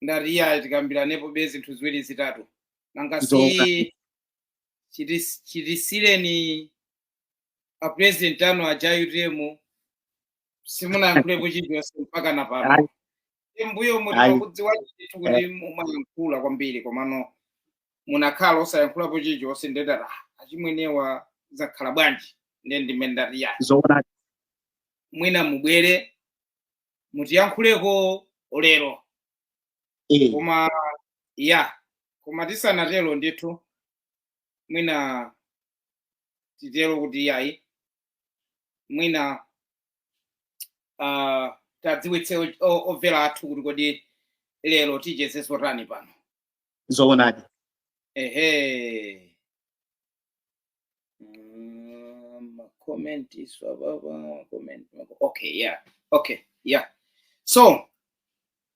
ndati iyayi tikambiranepo be zinthu ziwiri zitatu nanga si chitis- chitisiyireni a president anu aja a UTM simunayankhulepo chilichonse mpaka na pano mbuyomu timakudziwani kuti mumayankhula kwambiri komano munakhala osayankhulapo chilichonse nde ndati achimwenewa zakhala bwanji ndiye ndimene ndati iyayi zoona mwina mubwere mutiyankhuleko lero Eh, koma ya koma tisanatero ndithu mwina titero kuti yayi mwina uh, tadziwitse o- o- omvera athu kuti kodi lero ticheze zotani pano zoonadi ehe Uh, my comment is blah, blah, blah, comment. Okay, yeah. Okay, yeah. So,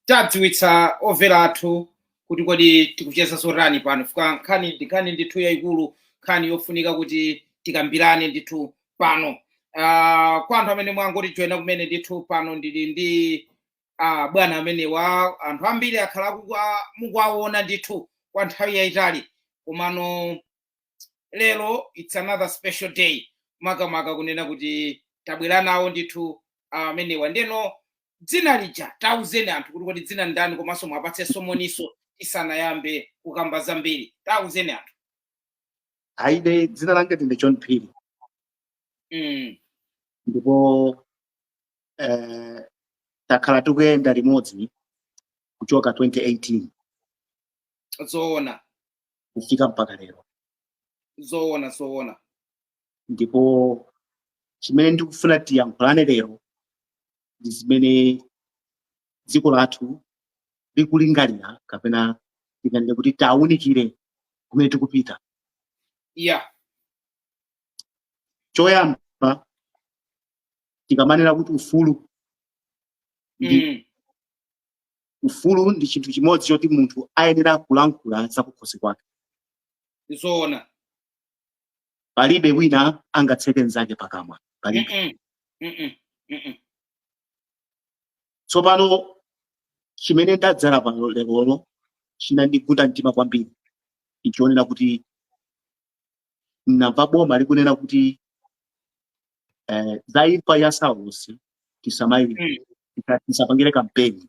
tadziwitsa omvera athu kuti kodi tikucheza zotani pano chifukwa nkhani ndi nkhani ndithu yayikulu nkhani yofunika kuti tikambirane ndithu pano uh, kwa anthu amene mwangotijoyina kumene ndithu pano ndili ndi uh, bwana amenewa anthu ambiri akhala akuku- a- mukuwaona ndithu kwa nthawi yayitali komano lero it's another special day makamaka kunena kuti tabwera nawo ndithu amenewa ndeno dzina lija tauzeni anthu kuti kodi dzina ndani komanso muwapatsenso moni tisanayambe kukamba zambiri tauzeni anthu ayi ine dzina langa ndine john phiri mm. ndipo eh, takhala tikuyenda limodzi kuchoka 2018 zoona kufika mpaka lero zoona zoona ndipo chimene ndikufuna tiyankhulane lero ndi zimene dziko lathu likulingalira kapena tinganene kuti tawunikire kumene tikupita ya choyamba tikamanena kuti ufulu ndi mm. ufulu ndi chinthu chimodzi choti munthu ayenera kulankhula zakukhosi kwake zoona palibe wina angatseke mnzake pakamwa palibe Mm-mm. Mm-mm. Mm-mm. tsopano chimene ndadzera pano lerolo chinandigunda mtima kwambiri nditaona kuti mnamva boma likunena kuti eh, za imfa ya saulosi tisamayi- Mm. tisa- tisapangire kampeni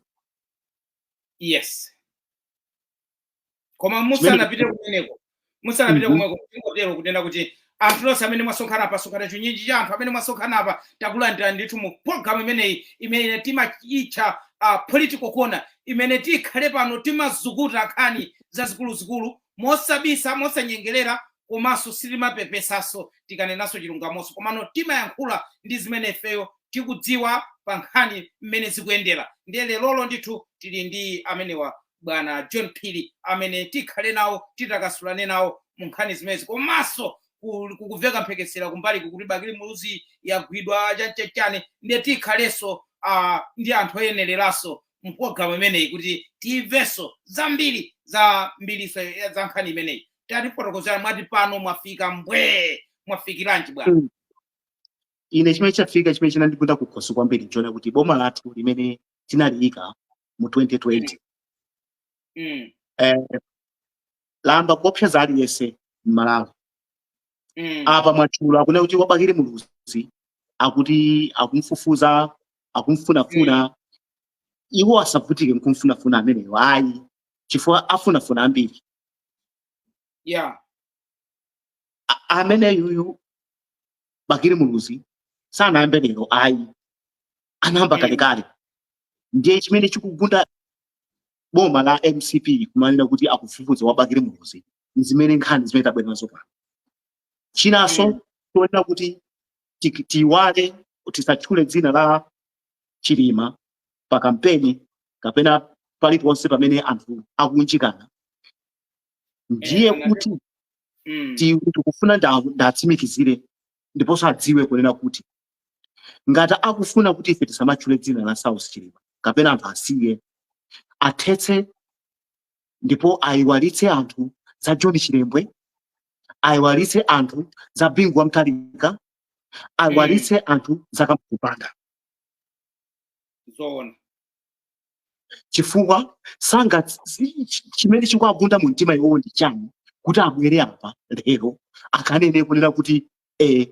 yes koma musanapite kumeneko musanapite Mhm. kumweko tingotero kunena kuti anthu nonsenu amene mwasonkhana apa mwasonkhana chinyinji cha anthu amene mwasonkhana apa takulandirani ndithu mu program imeneyi imene timaitcha uh, political corner imene tikhale pano timazukuta nkhani zazikuluzikulu mosabisa mosanyengerera komanso sitimapepesaso tikanenaso chilungamoso komano timayankhula ndi zimene ifeyo tikudziwa pa nkhani mmene zikuyendera ndiye lerolo ndithu tili ndi amenewa bwana john phiri amene tikhale nawo titambasulane nawo mu nkhani zimenezi komanso ku- kukuveka mphekesera kumbali kuti bakili muluzi yagwidwa chachachani ndiye tikhalenso ah, ndi anthu oyenereraso mpologalamu imeneyi kuti timvenso zambiri za mbilinso ya- za nkhani imeneyi tatifotokozera mwati pano mwafika mbwee mwafikiranji bwana Mm. ine chimene ndafika chimene chinandigunda kukhosi kwambiri nchoona kuti boma lathu limene tinaliyika mu 2020 Mm, eh, layamba kuopseza aliyense m'malawi Mm. apa mwatchula akunena kuti wa bakili muluzi akuti akumfufuza akumfunafuna iwo asavutike nkumfunafuna ameneyo ayi chifukwa afunafuna ambiri Yeah. A- ameneyuyu bakili muluzi sanayambe lero ayi anayamba Mm. kalekale ndiye chimene chikugunda boma la mcp kumanena kuti akufufuza wa bakili muluzi ndi zimene nkhani zimene tabwera nazo pano chinanso Mm. atiuza kuti ti- tiiwale tisatchule dzina la chilima pa kampeni kapena paliponse pamene anthu akuunjikana ndiye Eh, kuti Mm. ti- tikufuna nda- tiwatsimikizire ndiponso adziwe kunena kuti ngati akufuna kuti ife tisamatchule dzina la Saulos Chilima kapena anthu asiye athetse ndipo ayiwalitse anthu za John Chilembwe ayiwalitse anthu za Bingu wa Mutharika ayiwalitse anthu za Kamuzu Banda zoona chifukwa sanga si- chi- chimene chikuwagunda mu mtima iwowo ndi chani kuti abwere apa lero akanene kunena kuti eh,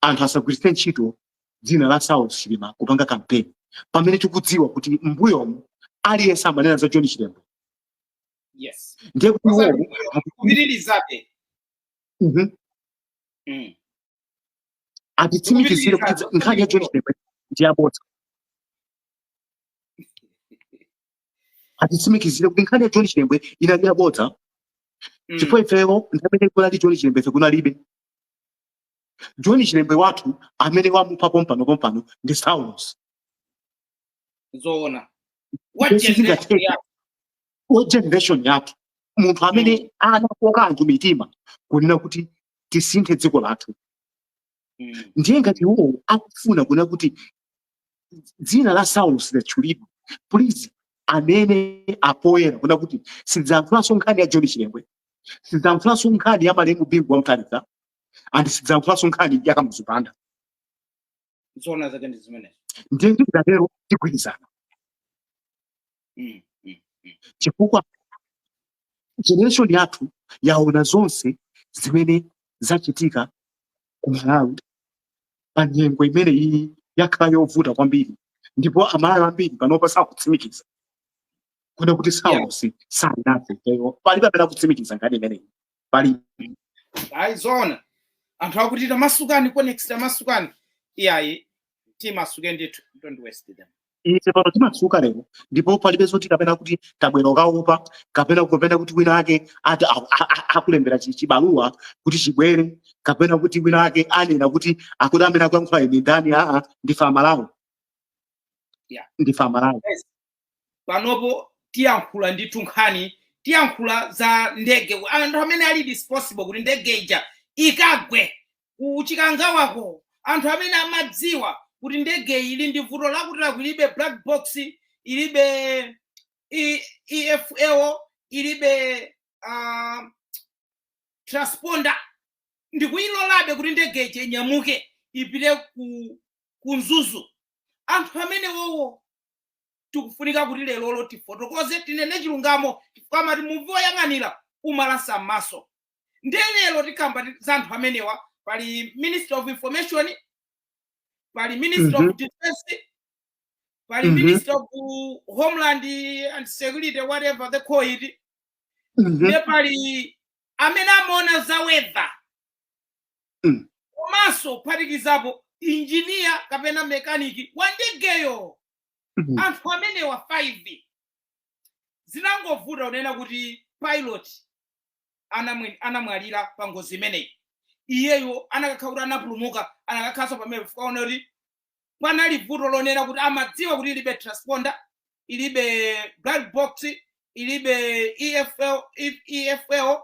anthu asagwiritse ntchito dzina la Saulos Chilima kupanga kampeni pamene tikudziwa kuti mbuyomu aliyense amanena za John Chilembwe yes ndiye kuti Osati iwowo mbuyomu, kupitirizabe Mhm. Mm. atitsimikizire kuti Kupitirizabe. nkhani ya John Chilembwe ndi yabodza atitsimikizire kuti nkhani ya john chilembwe inali yabodza mm. chifukwa ifeyo nthawi imene kunali john chilembwe ife kunalibe john chilembwe wathu amene wamupha pompano pompano ndi saulos zoona generation yathu munthu amene mm. anakoka anthu mitima kunena kuti tisinthe dziko lathu mm. ndiye ngati iwowo akufuna kuna kuti dzina la saulos lisadzatchulidwe please anene apoyera kuna kuti sidzankhulanso nkhani ya john chilembwe sidzankhulanso nkhani ya malemu bingu wa mutharika and sidzankhulanso nkhani ya kamuzu banda zoona zake ndi zimenezo ndiye tikatero tigwirizana mm, mm, mm. chifukwa generation yathu yaona zonse zimene zachitika ku Malawi pa nyengo imene iyi yakhala yovuta kwambiri ndipo amalawi ambiri panopa sakutsimikiza kuna kuti saulos sanathe palibe amene akutsimikiza nkhani imeneyi pali ayi zoona anthu akuti tamasukani comrades tamasukani iyayi timasuke ndithu don't worry sir ife pano timasuka lero ndipo palibe zoti kapena kuti tabwera kukaopa kapena kunena kuti wina ake ati a- a- a- akulembera chi- chibaluwa kuti chibwere kapena kuti wina ake anena kuti akuti amene akuyankhula ine ndani aa ndife amalawi Yeah. ndife amalawi Yes. panopo tiyankhula ndithu nkhani tiyankhula za ndege anthu amene ali responsible kuti ndege ija ikagwe kuchikangawako anthu amene amadziwa kuti ndege iyi ili ndi vuto lakuti lakuti ilibe black box ilibe i- efl ilibe uh, transponder ndikuyilolabe kuti ndege ija inyamuke ipite ku, ku mzuzu anthu amenewowo tikufunika kuti lerolo tifotokoze tinene chilungamo chifukwa amati muvi woyang'anira umalasa m'maso ndiye lero tikamba ti- za anthu amenewa pali minister of information pali minister Mhm. of defense pali Mhm. minister of homeland and security whatever they call it Mhm. ndiye pali amene amaona za weather Mm. komanso kuphatikizapo injiniya kapena mekaniki wa ndegeyo Mm. anthu amenewa 5 zinangovuta kunena kuti pilot anamwe- anamwalira pa ngozi imeneyi iyeyo anakakhala kuti anapulumuka anakakhalanso pamenepa chifukwa chonena kuti panali vuto lonena kuti amadziwa kuti ilibe transponder ilibe black box ilibe efl, E- EFL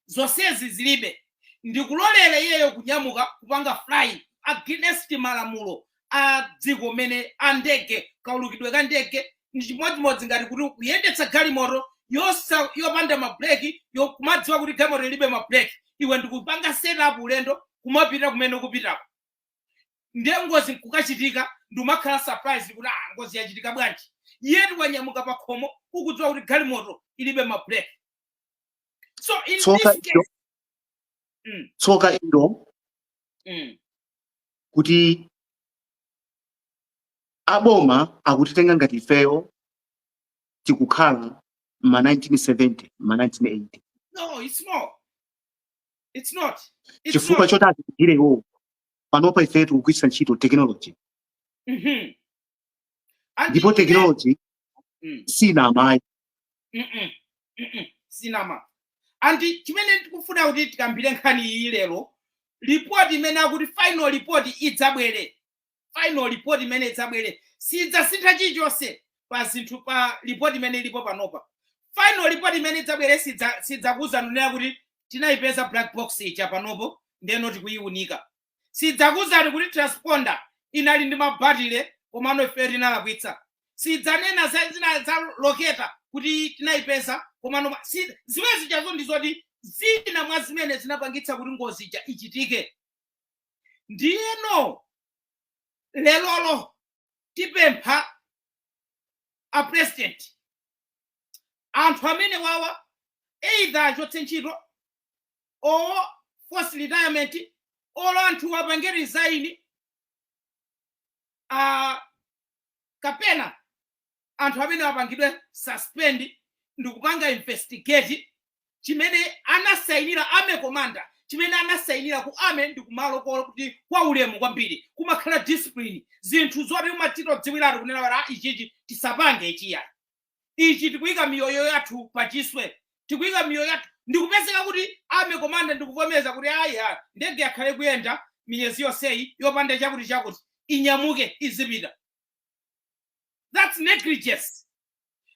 zonsezi zilibe ndikulolera iyeyo kunyamuka kupanga flying against malamulo a dziko mene a ndege kaulukidwe ka ndege ndi chimodzimodzi ngati kuti kuyendetsa galimoto yosa- yopanda mabreki kumadziwa kuti galimoto ilibe mabreki iwe ndikupanga set off ulendo kumapita kumene ukupitako ndiye ngozi nkukachitika ndiumakhala surprise kuti ah ngozi yachitika bwanji iwe ndi wanyamuka pakhomo ukudziwa kuti galimoto ilibe mabreki tsoka ilo tsoka ilo kuti aboma akutitenga ngati ifeyo tikukhala ma 1970 ma 1980 chifukwa choti atigire iwowo panopa ifeyo tikugwiritsa ntchito technology Mm-hmm. ndipo technology mm. sinamayi sinama andi chimene tikufuna kuti tikambire nkhani iyi lero report imene akuti final report idzabwere final report imene idzabwere sidzasintha chilichonse pa zinthu pa report imene ilipo panopa final report imene idzabwere sidzakuuzani kunena kuti tinayipeza black box ija panopo ndiyeno tikuyiunika Siidzakuuzani kuti transponder inali ndi ma battery komano ifeyo tinalakwitsa. Siidzanena za zina za locator kuti tinaipeza komano ma- si zimene zijazo ndi zoti zina mwa zimene zinapangitsa kuti ngozi ija ichitike. Ndiyeno lerolo tipempha a president anthu amenewawa either achotse ntchito or force retirement or anthuwa apange resign uh, kapena anthu amenewa apangidwe suspend ndikupanga investigate chimene anasainira army commander chimene anasainira ku army ndi kumalo kolo kuti kwa ulemu kwambiri kumakhala discipline zinthu zoti umachita kudziwiratu kunena kuti "Ah, ichichi tisapange ichiya ichi tikuyika miyoyo yathu pachiswe tikuyika miyoyo yathu ndikupezeka kuti army commander ndikuvomereza kuti ayi ha ndege yakhala ikuyenda miyezi yonseyi yopanda chakuti chakuti inyamuke izipita that's negligence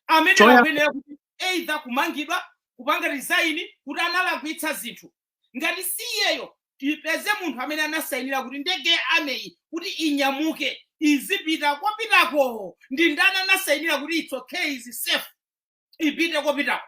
amene Choya- akuyenera kuti either kumangidwa kupanga resign kuti analakwitsa zinthu ngati si iyeyo tipeze munthu amene anasayinira kuti ndege ya army-yi kuti inyamuke izipita ikupitako ndi ndani anasayinira kuti it's okay is safe ipite ikupitako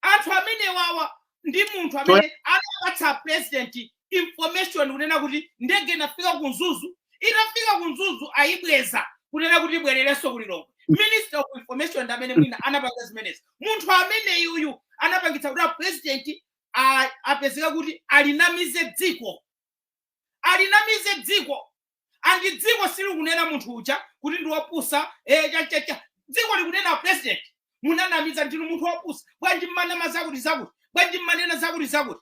anthu amenewawa ndi munthu amene anawapatsa a president information kunena kuti ndege inafika ku mzuzu itafika ku mzuzu ayibweza kunena kuti ibwererenso ku lilongwe minister of information ndi amene mwina anapanga zimenezi munthu ameneyuyu anapangitsa kuti apurezidenti a- apezeka kuti alinamize dziko alinamize dziko andi dziko silikunena munthu uja kuti ndi wopusa eh, cha- cha- cha. dziko likunena a president munanamiza ndinu munthu wopusa bwanji mumanama zakuti zakuti bwanji mumanena zakuti zakuti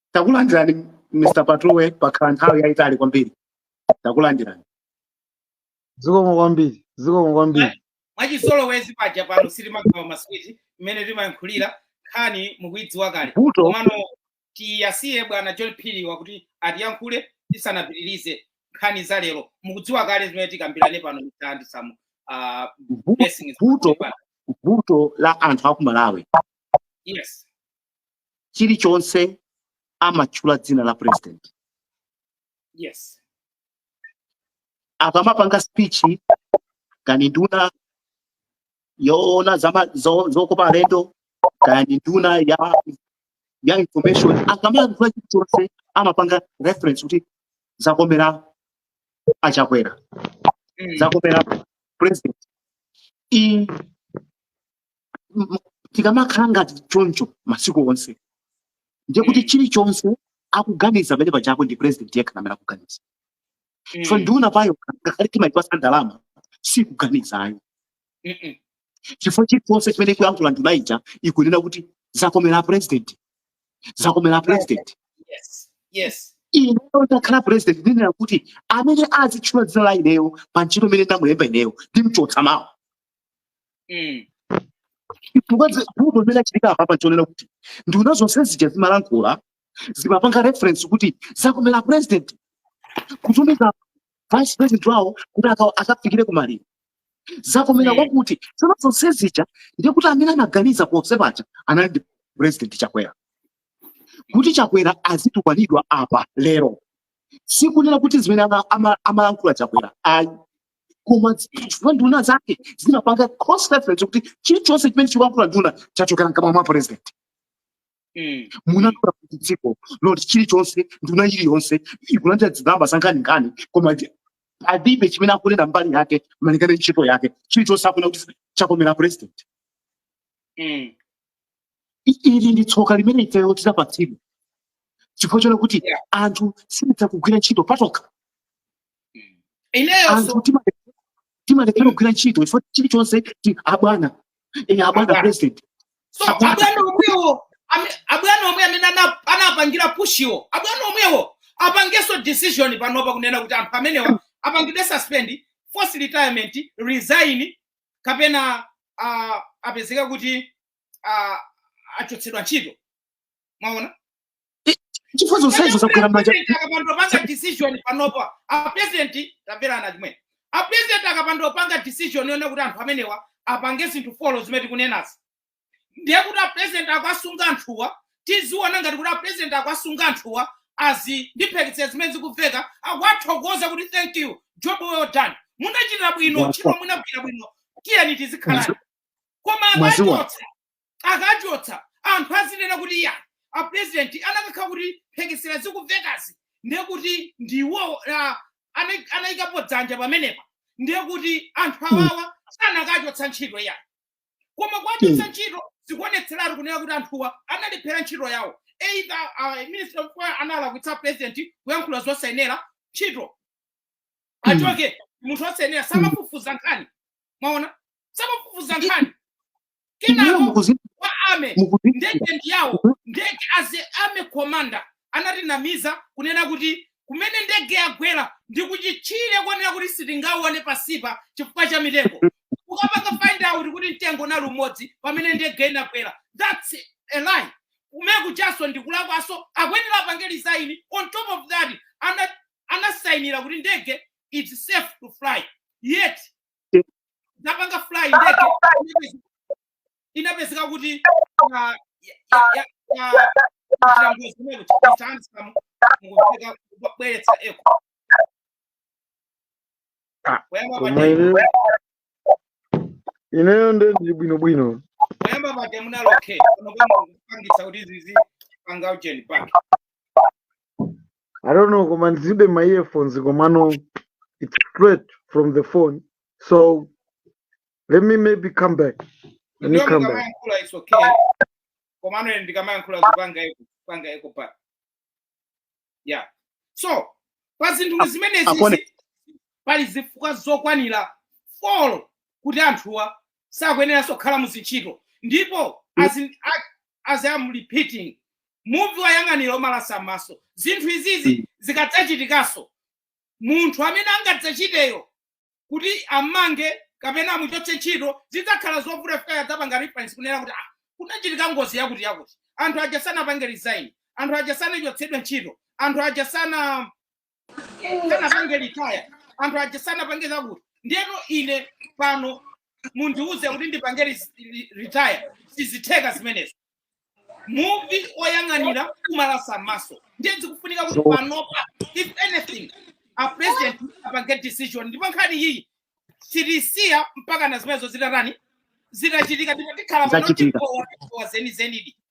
takulandirani mr patuwe pakhala nthawi yayitali kwambiri takulandirani zikomo kwambiri zikomo kwambiri mwachizolowezi paja pano sitimagawa maswiti mmene timayankhulira nkhani mukuidziwa kale komano tiyasiye bwana john phiri wakuti atiyankhule tisanapitirize nkhani za lero mukudziwa kale zimene tikambirane pano mtandi samu uh, vu- blessings vuto vuto la anthu aku malawi yes chilichonse amatchula dzina la president yes akamapanga speech kaya ndi nduna yoona zama- zo- zokopa alendo kaya ndi nduna ya ya information akamalankhula chilichonse amapanga reference kuti zakomera achakwera Mm. zakomera president iyi m- m- tikamakhala ngati choncho masiku onse ndiye kuti Mm. chilichonse akuganiza pamenepajako ndi president yekha amene akuganiza so Mm. ndunayo ngakhale timaipasa ndalama sikuganizayo Mm-mm. chifukwa chilichonse chimene ikuyankhula nduna ija ikunena kuti zakomera president zakomera president Yes. Yes. ineyo ndakhala president ndinena kuti amene azitchula dzina la ineyo pa ntchito imene ndamulemba ineyo ndimchotsa mawa Mm. chifukwa zi- vuto limene lachitika apapa nchoonera kuti nduna zonse zija zimalankhula zimapanga reference kuti zakomera president kutumiza vice president wawo kuti aka- akafikire kumaliro zakomera Mm. kwakuti zonse zonse zija ndiye kuti amene anaganiza ponse paja anali ndi president chakwera kuti chakwera azitukwanidwa apa lero sikunena kuti zimene ama- ama- amalankhula chakwera ayi koma chifukwa nduna zake zimapanga reference kuti chilichonse chimene chikulankhula nduna chachokera mkamwa mwa president Mm. munatola kuti dziko loti chilichonse nduna iliyonse ikulandira zigamba zankhaninkhani koma ndi- palibe chimene akunena mbali yake malingana ndi ntchito yake chilichonse akunena kuti chakomera president Mm. I- ili ndi tsoka limene ifeyo tidapatsidwa chifukwa chona kuti Yeah. anthu sititha kugwira ntchito patokha ineyo so anthu tima- timalephera kugwira ntchito chifukwa chilichonse ti- abwana eh, abwana Abwana. president so Abwana. abwana omwewo ame- abwana omwe amene ana- anapangira pushiwo abwana omwewo apangeso decision panopa kunena kuti anthu amenewa apangidwe suspend forced retirement resign kapena uh, apezeka kuti uh, achotsedwa ntchito mwaona I- chifukwa zonsezo zagwera mmanja akapandopanga decision panopa apresidenti tamverana Chimwemwe apresidenti akapandopanga decision yonena kuti anthu amenewa apange zinthu folo zimene tikunenazi ndiye kuti apresidenti akuwasunga anthuwa tiziona ngati kuti apresidenti akuwasunga anthuwa as in mphekesera zimene zikuveka akuwathokoza kuti thank you job well done munachita bwino ntchito munagwira bwino tiyeni tizikhala koma Mwaziwa. akachotsa akachotsa anthu azinena kuti iyayi apurezidenti anakakhala kuti mphekesera zikuvekazi ndiye kuti ndi iwowo ah, ana- anayikapo dzanja pamenepa ndiye kuti anthu awawa sanakachotsa ntchito iyayi koma kuwachotsa ntchito zikuonetseratu kunena kuti anthuwa analephera ntchito yawo either uh, minister of Info analakwitsa apresident kuyankhula zosayenera ntchito achoke munthu wosayenera samafufuza nkhani mwaona samafufuza nkhani kenako wa army ndege ndi yawo mhm. ndege as a army commander anatinamiza kunena kuti kumene ndege yagwera ndi kuchitchire kunena kuti sitingaone pansipa chifukwa cha mitengo mhm. ukapanga find out kuti mtengo unali umodzi pamene ndege inagwera that's a lie kumene kujanso ndikulakwanso akuyenera apange resign on top of that anasainira kuti ndege it's safe to fly yet zapanga fly ndege inapezi- inapezeka kuti ah, ya- ya- ya- ya- kuchita ngozi kumene kuti Mr. Handsome mukuoneka mukubweretsa echo Ah, kuyamba koma pate ineyo ineyo nde ndili bwinobwino kuyamba pate munalokhe pano kwapangisa kuti zizi panga ujeni pake I don't know koma ndilibe ma earphones komano it's straight from the phone so let me maybe come back let me Inuyo come back mukamayankhula it's okay. Komano ine ndikamayankhula kukupanga echo kukupanga echo apa. Yeah. So pa zinthu Ak- zimenezi akone zi- pali zifukwa zokwanira 4 kuti anthuwa sakuyeneranso kukhala mu zintchito ndipo as, in, a- as I'm repeating muvi woyang'anira umalasa mmaso zinthu izizi zikadzachitikanso munthu amene angadzachiteyo kuti amange kapena amuchotse ntchito zidzakhala zovuta chifukwa adzapanga reference kunena kuti ah, kunachitika ngozi yakuti yakuti anthu aja sanapange resign anthu aja sanachotsedwe ntchito anthu aja sana sanapange retire anthu aja sanapange zakuti ndeno ine pano mundiuze kuti ndipange res- re- retire sizitheka zimenezo muvi oyang'anira kumalasa maso ndiye zikufunika kuti panopa if anything a president apange decision ndipo nkhani iyi sitisiya mpakana zimenezo zitatani zitachitika ndipo tikhala pano zachitika tipowa tipowa zenizenidi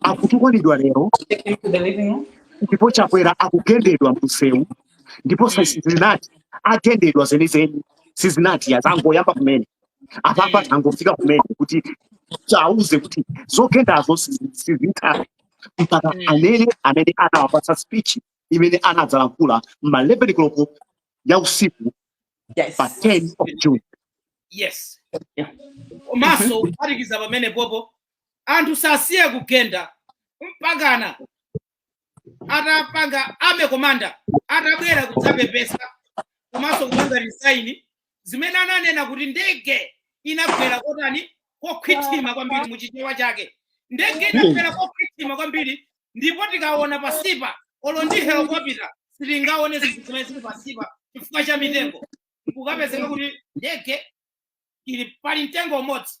akutukwanidwa lero ndipo chakwera akugendedwa mumsewu ndipo sizinati agendedwa zenizeni sizinati angoyamba kumene apapa tangofika kumene kuti tiwauze kuti zogendazo sizitha mpaka mm. amene amene anawapatsa speech imene anadzalankhula ma 11 koloko ya usiku yes. pa 10 of june yes komanso kuphatikiza pamenepopo anthu asasiye kugenda mpakana atapanga army commander atabwera kudzapepesa komanso kupanga resign zimene ananena kuti ndege inagwera kotani kokhwithima kwambiri muchichewa chake ndege inagwera kokhwithima kwambiri ndipo tikaona pasipa olo ndi helikopita sitingaone zinthu zimene zili pasipa chifukwa cha mitengo nkukapezeka kuti ndege ili pali mtengo umodzi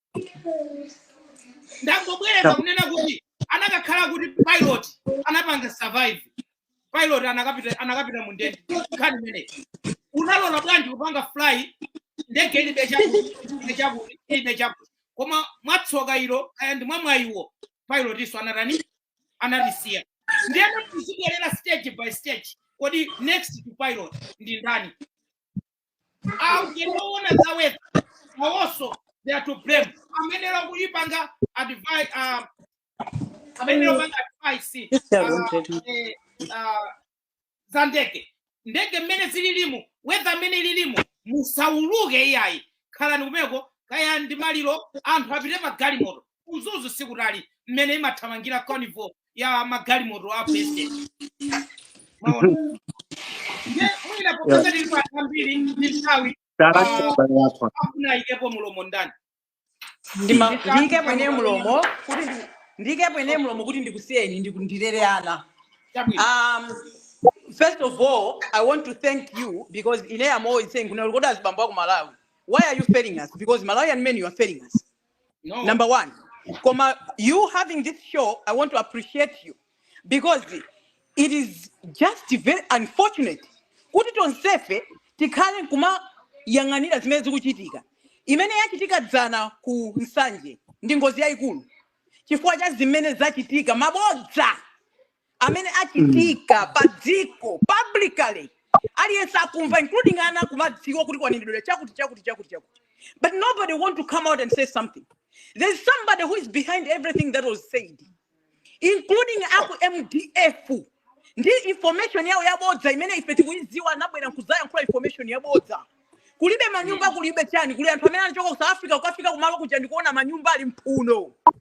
ndangobwereza apa kunena kuti anakakhala kuti pilot anapanga survive pilot akanapita akanapita mu ndege nkhani imeneyi unalola bwanji kupanga fly ndege ilibe chakuti ilibe chakuti ilibe chakuti koma mwatsoka ilo kaya ndi mwamwayiwo pilotiyo anatani anatisiya ndiyeno tiziibwerera stage by stage kodi next to pilot ndi ndani aMET oona za weather awonso they are to blame amene amapanga advise uh, amene amapanga advise Just a room, uh, Teddy. eh, uh, za ndege ndege mmene zililimu weather mmene ililimu musauluke iyayi khalani kumeko kaya ndi maliro anthu apite pa galimoto ku Mzuzu sikutali mmene imathamangira convoy ya magalimoto a president mwaona ndiye mwina popeza tili pa anthu ambiri ndi nthawi Tarakita bale yako. afuna ayikepo mulomo ndani Ndima- Ndi ndiyike chani pene pamene mulomo kuti ndi- ndiyikepo ine mulomo kuti ndikusiyeni ndiku- ndilere ana chabwino um, first of all i want to thank you because ine am always saying kunena kuti azibambo aku malawi why are you failing us because malawian men you are failing us no. number one koma you having this show i want to appreciate you because it is just very unfortunate kuti tonsefe tikhale nkumayang'anira zimene zikuchitika imene yachitika dzana ku nsanje ndi ngozi yayikulu chifukwa cha zimene zachitika mabodza amene Mm. achitika pa dziko publicly aliyense akumva including ana kumadziwa kuti kwanenedwera chakuti chakuti chakuti chakuti but nobody want to come out and say something there's somebody who is behind everything that was said including aku mdf ndi information yawo yabodza imene ife tikuyidziwa anabwera nkuzayankhula information yabodza kulibe manyumba kulibe chani kuli anthu amene anachoka ku south africa kukafika kumalo kuja ndikuona manyumba ali mphumphu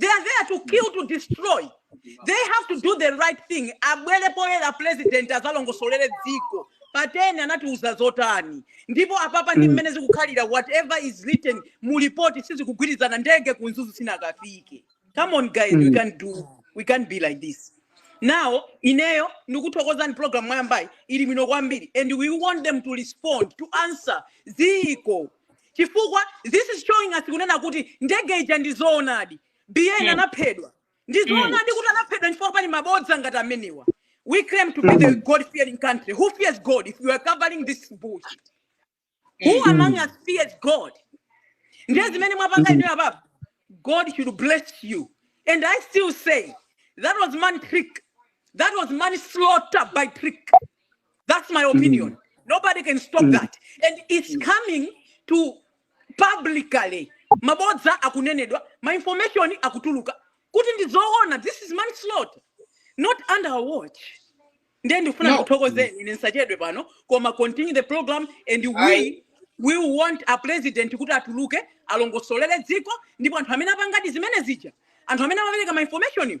they are there to kill to destroy they have to do the right thing abwere poyera president azalongosolere dziko pateni anatiuza zotani ndipo apapa ndi mmene zikukhalira whatever is written mu report sizikugwirizana ndege kunzuzu sinakafike come on guys we can do we can't be like this now ineyo ndikuthokozeni program mwayambayi ili bwino kwambiri and we want them to respond to answer dziko chifukwa this is showing us kunena kuti ndege ija ndi zoonadi bn anaphedwa ndi zoonadi kuti anaphedwa nchifukwa pali mabodza ngati amenewa we claim to be the god fearing country who fears god if you are covering this bullshit who among us fears god ndiye zimene mwapanga inuyo apapo god should bless you and i still say that was man trick that was manslaughter by trick That's my opinion. Nobody can stop that. And it's coming to publicly. Mabodza akunenedwa, ma information akutuluka. Kuti ndizoona, this is manslaughter. Not under our watch. Ndiye ndifuna ndikuthokozeni ine nsachedwe pano koma continue the program and we we want a president kuti atuluke alongosolere dziko ndipo anthu amene apangadi zimene zija anthu amene amapereka ma information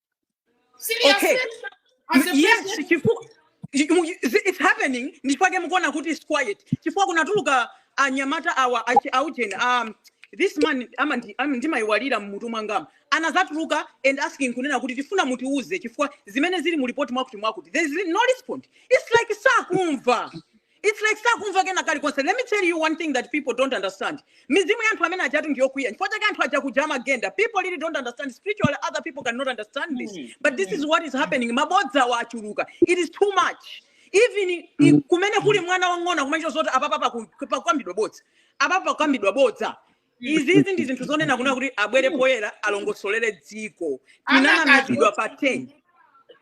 okay yes chifukwa it's happening nchifukwa chake mukuona kuti it's quiet chifukwa kunatuluka anyamata awa aujeni um, this man ndimaiwalira mmutu mwangama anazatuluka and asking kunena kuti tifuna mutiuze chifukwa zimene zili mu report mwakuti mwakuti there is no respond it's like sakumva Its like sakumva kena kalikonse. Let me tell you one thing that people don't understand. Mizimu ya anthu amene aja tu ndiyokwiya. N'chifukwa chake anthu aja kuja amagenda. People really don't understand. Spiritually, other people cannot understand this. Mm, But this mm. is what is happening. Mabodzawa achuluka. It is too much. Even i- i- Mm. kumene kuli mwana wang'ono akumadziwa zoti apapa paku- pakukambidwa bodza. Apapa pakukambidwa bodza. izizi ndi zinthu zonena kunena kuti abwere poyera alongosolere dziko tinanamizidwa pa ten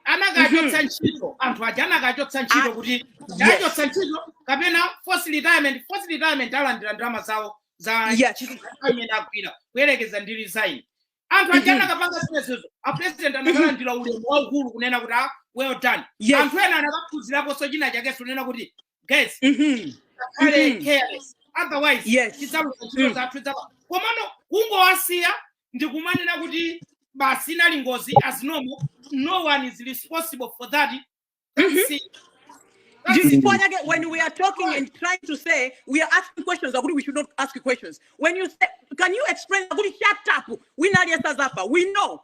anakachotsa ntchito anthu aja anakachotsa ntchito kuti anachotsa ntchito kapena forced retirement forced retirement alandira ndalama zawo za Yeah. ntchito imene agwira kuyerekeza ndi resign anthu aja Mhm. anakapanga zimenezo a president anakalandira ulemu waukulu kunena kuti ah, well done Yes. anthu ena anakaphunziraponso china chakenso kunena kuti guys Mhm. akhale Mhm. careless otherwise Yes. tidzaluza nkhondo Mm. zathu izapa komano kungowasiya nkumanena kuti basi inali ngozi as normal no one is responsible for that That's it. That's it. Chifukwa chake when we are talking and trying to say we are asking questions akuti we should not ask questions when you say can you explain akuti shut up wina aliyense adzafa we know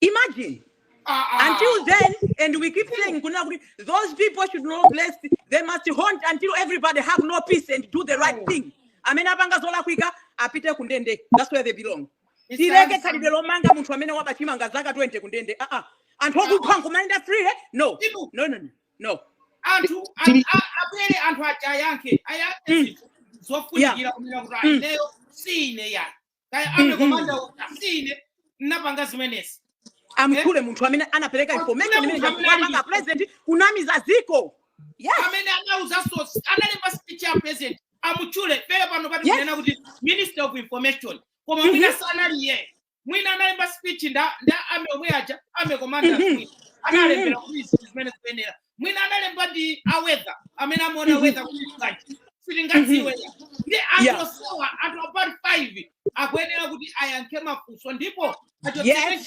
Imagine. Ah, ah. Until then, and we keep saying, those people should not rest. They must hunt until everybody have no peace and do the right thing. Amene apanga zolakwika apite kundende. That's where they belong. Tileke khalidwe lomanga munthu amene waba chimanga zaka 20 kundende. Ah ah. Anthu okupha nkumayenda free. Eh? No. No no no. No. Anthu abwere anthu aja ayankhe. Ayankhe mm. zofunikira kunena kuti mm. ayineyo si ine yani. kaya army commander Mhm. uti si ine napanga zimenezi amutchule munthu amene anapereka Amutchule information imene munthu amene ali- anakupanga president kunamiza ziko yes amene anauza source analemba speech ya president amutchule pele pano pati Yes. kunena kuti minister of information koma Mhm. mwina sanali iye mwina analemba speech nda nda ame omwe aja army commander Mhm. analembera kuti izi zimene zikuyenera mwina analemba ndi a weather amene amaona Mhm. weather kuti bwanji sitingadziwe ndi anthu Yeah. osowa anthu top five akuyenera kuti ayankhe mafunso ndipo Yes. achokere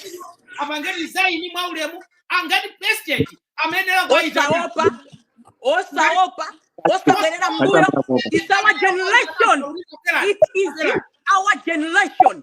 apange resign mwa ulemu angati president amayenera kuwayitana osaopa osaopa osabwerera mbuyo Atambakopa. it's our generation it is our generation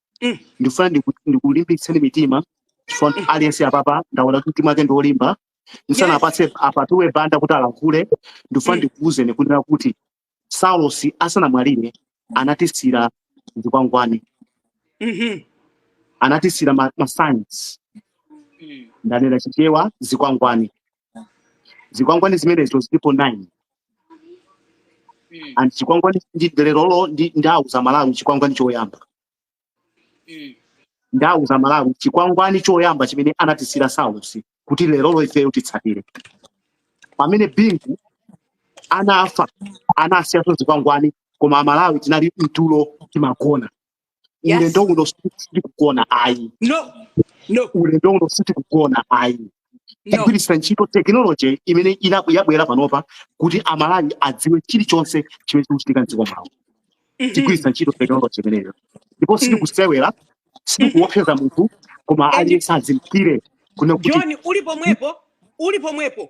Mm. ndifuna ndiku- ndikulimbitseni mitima chifukwa Mm. aliyense apapa ndaona kuti mtima wake ndi wolimba ndisana Yes. apatse a Pathuwe Banda kuti alankhule ndifuna Mm. ndikuwuzeni kunena kuti Saulos asanamwalire anatisira zikwangwani Mhm. anatisira ma, ma signs ndanena chichewa zikwangwani zikwangwani zimenezo zilipo 9 Mm. and chikwangwani ndi lerolo ndi ndauza Amalawi chikwangwani choyamba Mm. ndauza Amalawi chikwangwani choyamba chimene anatisira Saulos kuti lerolo ifeyo titsatire pamene bingu anafa anasiyaso zikwangwani koma amalawi tinali mtulo timagona Yes. Ulendo uno sitikugona ayi. No. No. Ulendo uno sitikugona ayi. No. Tigwiritsa ntchito technology imene yabwera panopa kuti Amalawi adziwe chilichonse chimene chikuchitika m'dziko mwawo. Mm-hmm. Tigwiritsa ntchito technology imeneyo. Ndipo mm. sitikusewera, sitikuopseza munthu koma aliyense azindikire kuno kuti. John, uli pomwepo, uli pomwepo.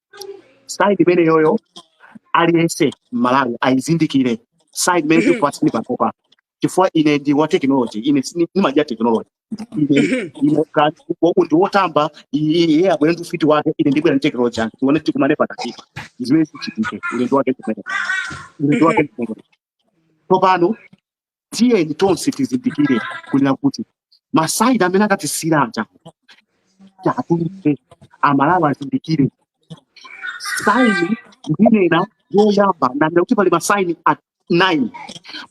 sign imeneyoyo aliyense m'malawi ayizindikire sign imene chifukwa sindipatopa chifukwa ine ndi wa technology ine sini- ndimadya technology ine ine ka- wa- ndi wotamba iye iye abwere ndi ufiti wake ine ndibwera ndi technology yange tione tikumane pakatipa zimene zichitike ulendo wake kumene ulendo wake kumene tsopano tiyeni tonse tizindikire kunena kuti masaini amene akatisiyira aja atuluke amalawi azindikire saini ndinena yoyamba nanena kuti pali masaini ati nine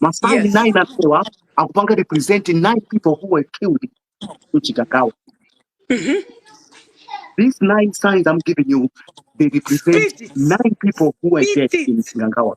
masaini Yes. nine amenewa akupanga represent nine people who were killed in chikangawa these nine signs i'm giving you they represent Speak it. nine people who were Speak dead in it. chikangawa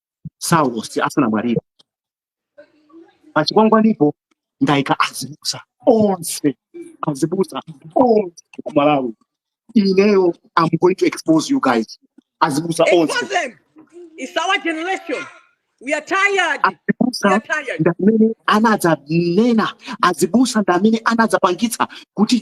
saulosi asanamwalire pa chikwangwanipo ndaika azibusa onse azibusa onse ku malawi ineyo am going to expose you guys azibusa onse Expose them. It's our generation. We are tired. We azibusa are tired. ndamene anadzanena azibusa ndamene anadzapangitsa kuti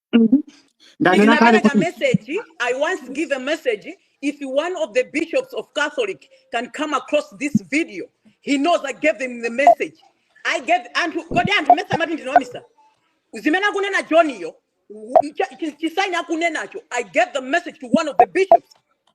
Mhm. ndanena kale ndinapereka kuti message i once give a message if one of the bishops of catholic can come across this video he knows i gave him the message i gave anthu kodi anthu mesa amati ndinawanamiza zimene akunena johniyo chisaini akunenacho i gave the message to one of the bishops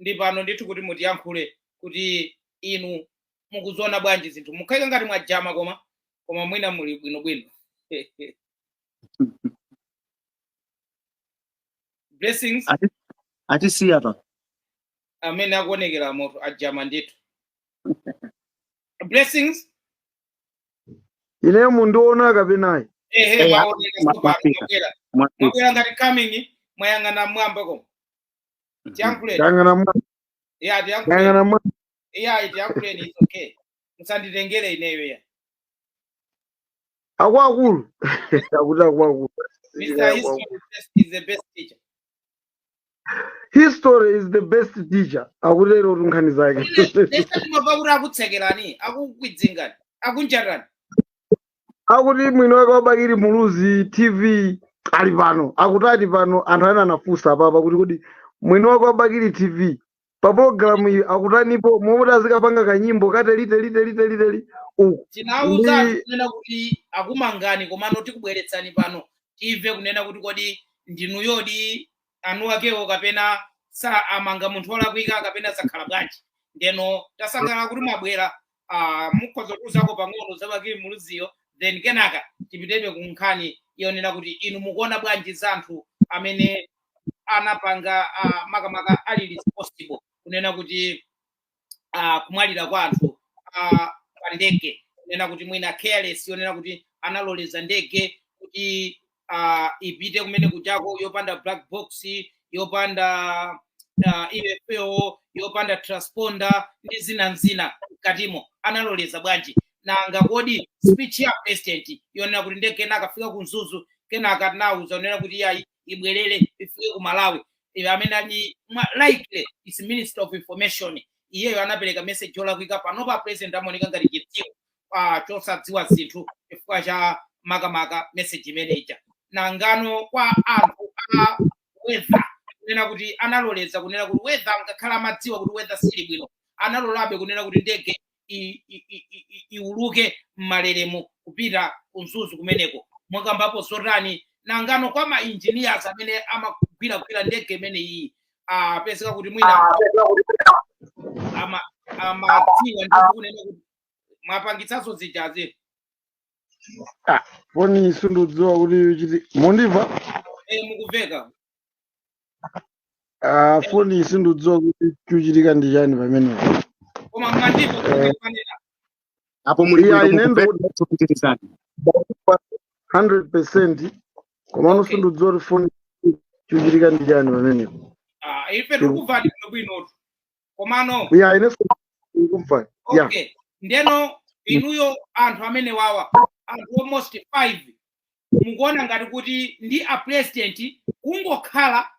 ndi pano ndithu kuti mutiyankhule kuti inu mukuziona bwanji zinthu mukukhala ngati mwajama koma koma mwina muli bwinobwino blessings Ati- atisiya awa amene akuonekera moto ajama ndithu blessings ineyo mundiona kapenayi ehe Eya, mwaoneka ma- tsopano mwafika. mwabwera mwafika mwabwera ngati coming mwayang'ana mwamba koma tiyankhuleni Yang'ana mwa- ya tiyankhuleni yang'ana mwa- ya tiyankhuleni it's okay musanditengere ineyo ya akuluakulu akuti akuluakulu mr history is best- is the best teacher history is the best teacher akutero kuti nkhani zake ndiye sitimabva kuti akutsekerani akukwidzingani akunjatani akuti mwini wake wa bakili muluzi tv ali pano akutani pano anthu ena anafunsa apapa kuti kodi mwini wake wa bakili tv pa pologalamu iyi akutanipo momwe azikapanga kanyimbo kateliteliteliteliteli uku tinamva Ndi- kunena kuti akumangani komano tikubweretsani pano timve kunena kuti kodi ndinuyodi anuwakewo kapena anamanga munthu wolakwika kapena zakhala bwanji ndeno tasangalala kuti mwabwera ah, mukhoza kuuzako pang'ono za bakili muluziyo then kenaka tipitebe ku nkhani yonena kuti inu mukuona bwanji za anthu amene anapanga ah, makamaka ali responsible kunena kuti uh, kumwalira kwa anthu uh, pa ndege kunena kuti mwina careless yonena kuti analoleza ndege kuti uh, ipite kumene kujako yopanda black box yopanda uh, info yopanda transponder ndi zina ndi zina mkatimo analoleza bwanji nanga kodi speech ya president yonena kuti ndege inakafika ku mzuzu kenaka anaiuza kunena kuti yayi ibwerere ifike ku malawi amene ali mwa- likely ndi minister of information iyeyo anapereka message yolakwika panopa president amaoneka ngati chitsiru ah, chosadziwa zinthu chifukwa cha makamaka message imene ija nangano kwa anthu a weather kunena kuti analoleza kunena kuti weather ngakhale amadziwa kuti weather sili bwino analolabe kunena kuti ndege i- i- i- i- i- iuluke m'malelemu kupita ku mzuzu kumeneko mwakambapo zotani nangano kwa ma engineers amene amagwiragwira ndege imeneyi apezeka kuti mwina ama- amadziwa ndi kunena kuti mwapangitsanso zijazi foni sindidziwa kuti chiti mundimva eh, mukuveka Ah, foni sindidziwa kuti chikuchitika ndi chani pamenepo koma mmandimva Eh. kumanena apo muli iya bwino inebe kuti mupitirize 100 percent komano Okay. sindidziwa kuti foni chikuchitika ndi chani pamenepo Ah, ife tikukumvani bwinobwinotu komano ya inenso ndikumva ya okay ndeno inuyo anthu amenewawa anthu almost 5 mukuona ngati kuti ndi a president kungokhala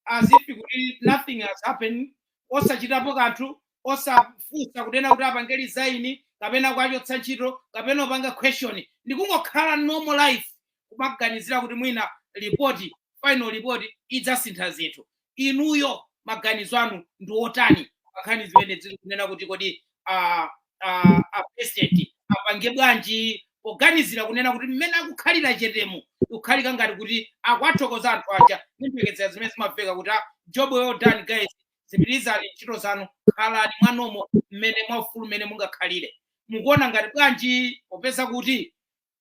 as if kuti nothing has happened osachitapo kanthu osafunsa kunena kuti apange resign kapena kuachotsa ntchito kapena kuwapanga question ndikungokhala normal life kumaganizira kuti mwina lipoti final report idzasintha zinthu inuyo maganizo anu ndi otani pankhani zimenezi kunena kuti kodi ah, ah, a president apange bwanji poganizira kunena kuti mmene akukhalira chetemu kukhalika ngati kuti akuwathokoza anthu aja ndi mphekesera zimene zimamveka kuti ah, job well done guys dzipitirizani ntchito zanu khalani mwanomo mmene mwaufulu mmene mungakhalire mukuona ngati bwanji popeza kuti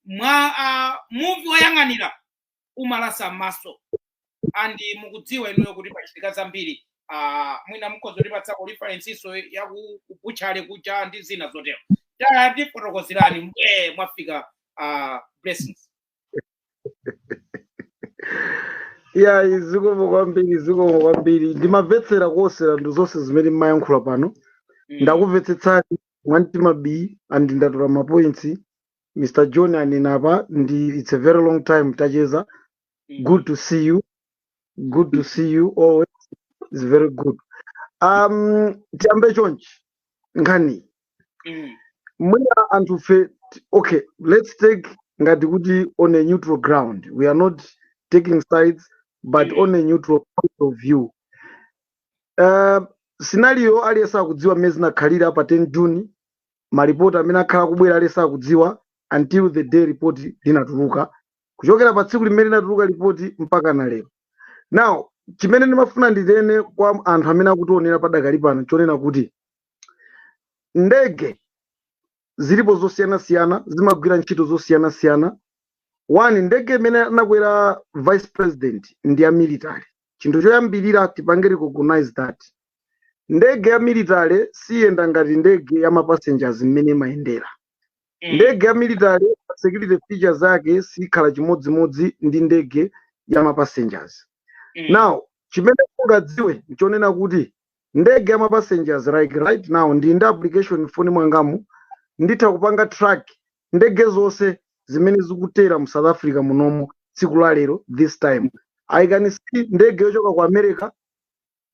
mwa uh, muvi woyang'anira umalasa m'maso and mukudziwa inuyo kuti pachitika zambiri ah, mwina mukhoza kutipatsako referensi zoyakubuchale kucha ndi zina zotero tayatifotokozerani mbwee mwafika ah, blessings ayi zikomo kwambiri zikomo kwambiri ndimamvetsera kuosera ndi zonse zimene mmayankhula pano Mm, ndakumvetsetsani mwamtima bii andi ndatola mapointsi mr john anenapa and its a very long time tacheza good to see you good to see you always it's very good um tiyambe chonchi nkhani Mm. mwina anthu fe t- okay let's take ngati kuti on a neutral ground we are not taking sides but Mm. on a neutral point of view uh, scenario aliyense akudziwa mmene zinakhalira pa 10 june ma report amene akhala akubwera aliyense akudziwa until the day report linatuluka kuchokera pa tsiku limene linatuluka report mpaka na lero now chimene ndimafuna ndinene kwa anthu amene akutionera padakali pano nchonena kuti ndege zilipo zosiyanasiyana zimagwira ntchito zosiyanasiyana one ndege imene anakwera vice president ndi ya military chinthu choyambirira tipange recognize that ndege ya military siyenda ngati ndege ya mapassengers mmene imayendera mm. ndege ya military security features zake sikhala chimodzimodzi ndi ndege ya mapassengers mm. now chimene mungadziwe nchonena kuti ndege ya mapassengers like right now ndili ndi application mfoni mwangamu nditha kupanga track ndege zonse zimene zikutera mu south africa munomo tsiku la lero this time i can see ndege yochoka ku america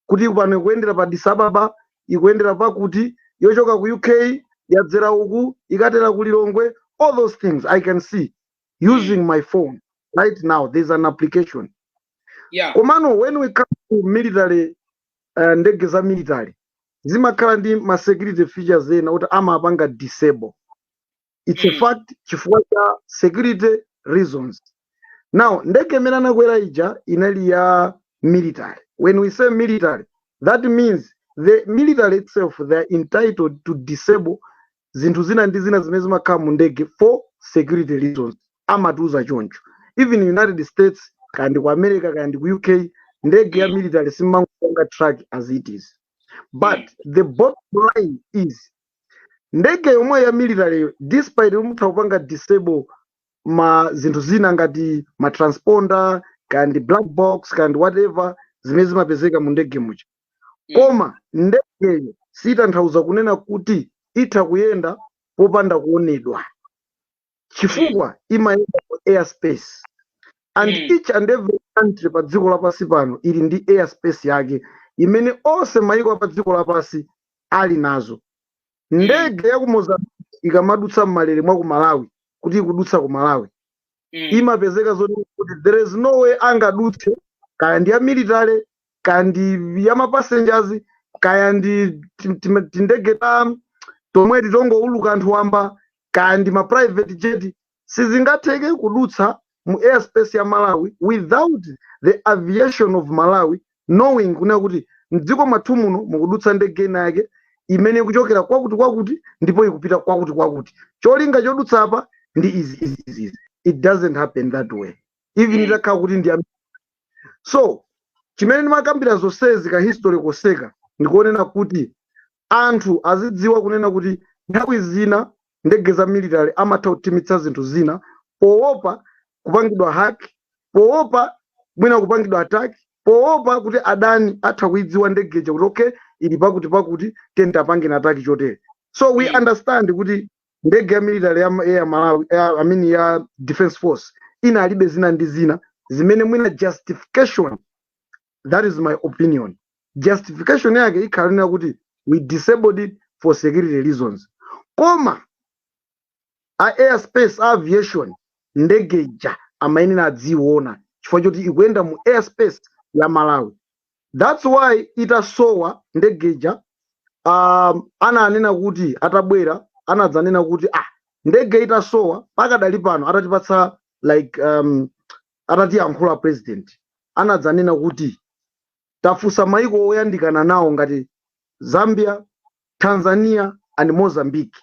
kuti pano ikuyendera pa Addis Ababa ikuyendera pakuti yochoka ku UK yadzera uku ikatera ku Lilongwe all those things I can see using my phone right now there's an application yeah komano when we come to military uh, ndege za military zimakhala ndi ma security features ena kuti amapanga disable it's a mm. fact chifukwa cha security reasons now ndege imene anakwera ija inali ya military when we say military that means the military itself they are entitled to disable zinthu zina ndi zina zimene zimakhala mu ndege for security reasons amatiuza choncho even united states kaya ndi ku america kaya ndi ku uk ndege ya military simangopanga track as it is but the bottom line is ndege yomweyo ya military yo despite mutha kupanga disable ma zinthu zina ngati ma transponder kaya ndi black box kaya ndi whatever zimene zimapezeka mu ndege muja Mm. koma ndegeyo sitanthauza kunena kuti itha kuyenda popanda kuonedwa chifukwa imayenda mu airspace and Mm. each and every country pa dziko lapansi pano ili ndi airspace yake imene onse mayiko a padziko lapansi ali nazo ndege ya ku mozambique ikamadutsa m'malire mwa ku malawi kuti ikudutsa ku malawi imapezeka zoti kuti there is no way angadutse kaya ndi ya military kaya ndi ya mapassengers kaya ndi tim- tim- tindege ta tomwe ti tongouluka anthu wamba kaya ndi ma private jet sizingatheke kudutsa mu airspace ya malawi without the aviation of malawi knowing kunena kuti mdziko mwathu muno mukudutsa ndege ina yake imene ikuchokera kwakuti kwakuti ndipo ikupita kwakuti kwakuti cholinga chodutsa apa ndi izi izi izi izi. it doesn't happen that way even Mm. itakhala kuti ndi am- so chimene ndimakambira zonsezi ka history koseka ndikonena kuti anthu azidziwa kunena kuti nthawi zina ndege za military amatha kuthimitsa zinthu zina poopa kupangidwa hack poopa mwina kupangidwa attack poopa kuti adani atha kuidziwa ndegeja kuti okay ili pakuti pakuti tiyeni tiyipangeni attack chotere so we understand kuti ndege ya military ya, a malawi I mean ya defense force inalibe zina ndi zina zimene mwina justification that is my opinion justification yake ikhala yonena kuti we disabled it for security reasons koma a airspace a aviation ndege ija amayenera aziyiona chifukwa choti ikuyenda mu airspace ya malawi That's why itasowa ndege ija um, ananena kuti atabwera anadzanena kuti ah, ndege itasowa pakadali pano atatipatsa like um, atatiyankhula president anadzanena kuti tafunsa maiko oyandikana nawo ngati Zambia, Tanzania and Mozambique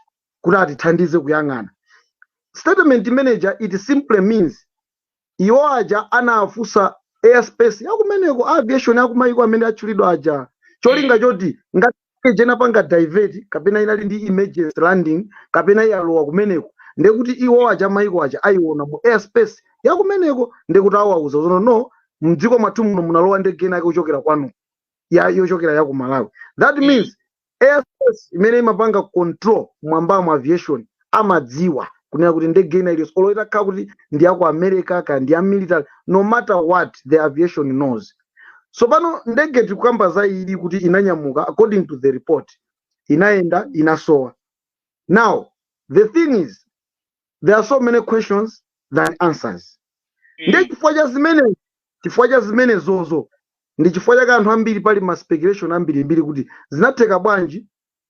kuti atithandize kuyang'ana. Statement imene ija it simply means iwo aja anafunsa airspace yakumeneko a aviation akumayiko amene atchulidwa aja cholinga choti ngati ndegeyi inapanga divert kapena inali ndi emergency landing kapena inalowa kumeneko ndekuti iwo aja mayiko aja ayiona mu airspace yakumeneko ndekuti awauza zoti no mdziko mwathu muno munalowa ndege inake kuchokera kwanu ya yochokera ya ku malawi that means airspace imene imapanga control m'mwambamo aviation amadziwa kunena kuti ndege ina iliyonse olo itakhala kuti ndi ya ku america kaya ndi ya military no matter what the aviation knows so pano ndege tikukamba za iyi kuti inanyamuka according to the report inayenda inasowa now the thing is there are so many questions than answers nchifukwa cha zimenezozo ndi chifukwa chake anthu ambiri pali ma speculation ambirimbiri kuti zinatheka bwanji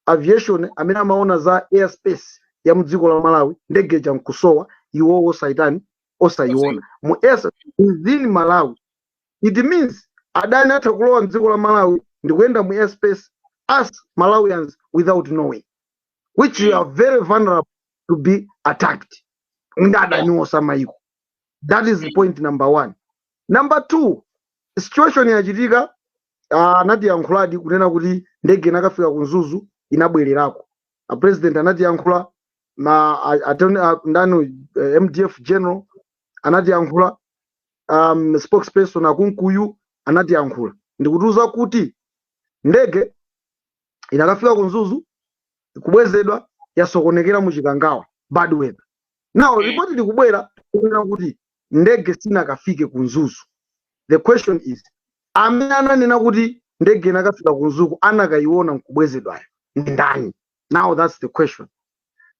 aviation amene amaona za airspace ya mdziko la malawi ndege ija nkusowa iwowo osayitani osayiona mu airs within malawi it means adani atha kulowa mdziko la malawi ndikuyenda mu airspace as malawians without knowing which we are very vulnerable to be attacked ndi adani osamayiko that is point number one number two situation yachitika ah, anatiyankhuladi uh, kunena kuti ndege inakafika ku mzuzu inabwererako a president anatiyankhula ma attorney uh, ndani uh, eh, mdf general anatiyankhula um, spokesperson akunkuyu anatiyankhula ndikutiuza kuti ndege inakafika ku mzuzu kubwezedwa yasokonekera mu chikangawa bad weather now report likubwera kunena kuti ndege sinakafike ku mzuzu the question is amene ananena kuti ndege inakafika ku mzuzu anakayiona nkubwezedwayo ndi ndani now that's the question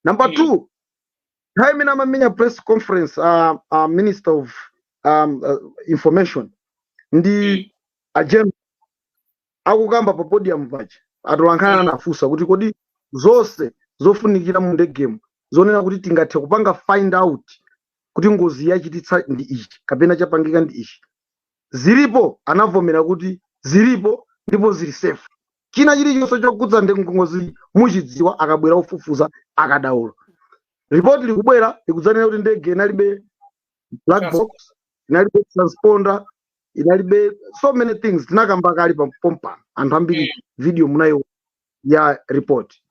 number two nthawi imene amamenya press conference uh, uh, minister of um, uh, information ndi a General akukamba pa podium paja atolankhani anafunsa kuti kodi zonse zofunikira mu ndegemu zonena kuti tingathe kupanga find out kuti ngozi yachititsa ndi ichi kapena chapangika ndi ichi zilipo anavomera kuti zilipo ndipo zili safe china chilichonse chokhudza ndi ngozi muchidziwa akabwera ofufuza akadaulo ripoti likubwera likudzanena kuti ndege inalibe black box inalibe transponder inalibe so many things tinakamba kale pompano anthu ambiri video munayiona ya report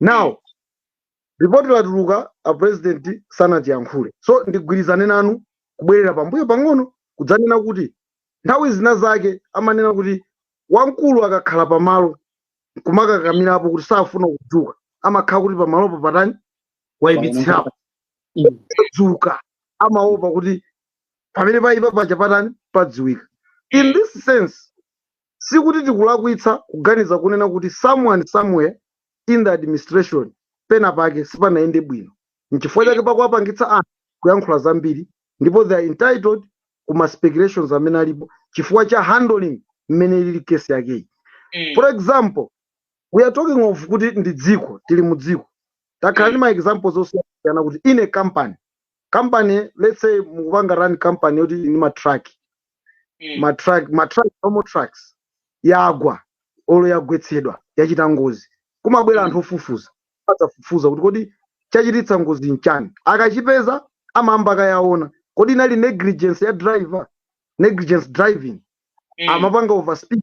now report latuluka a president sanatiyankhule so ndigwirizane nanu kubwerera pambuyo pang'ono kudzanena kuti nthawi zina zake amanena kuti wamkulu akakhala pamalo kumakakamirapo kuti safuna kudzuka amakhala kuti pamalopo patani waipitsirapo akadzuka amaopa kuti pamene paipa paja patani padziwika in this sense sikuti tikulakwitsa kuganiza kunena kuti someone somewhere in the administration pena pake sipanayende bwino nchifukwa chake pakuwapangitsa anthu kuyankhula zambiri ndipo they are entitled ku ma speculations amene alipo chifukwa cha handling mmene ilili kesi yakeyi for example we are talking of kuti ndi dziko tili mu dziko takhala ndi mm. ma examples osiyanasiyana kuti in a company company let's say mukupanga run company yoti ndi ma truck mm. ma truck ma truck amo truck yagwa olo yagwetsedwa yachita ngozi kumabwera mm. anthu ofufuza adzafufuza kuti kodi chachititsa ngozi nchani akachipeza amayamba akayaona kodi inali negligence ya driver negligence driving mm. amapanga overspeed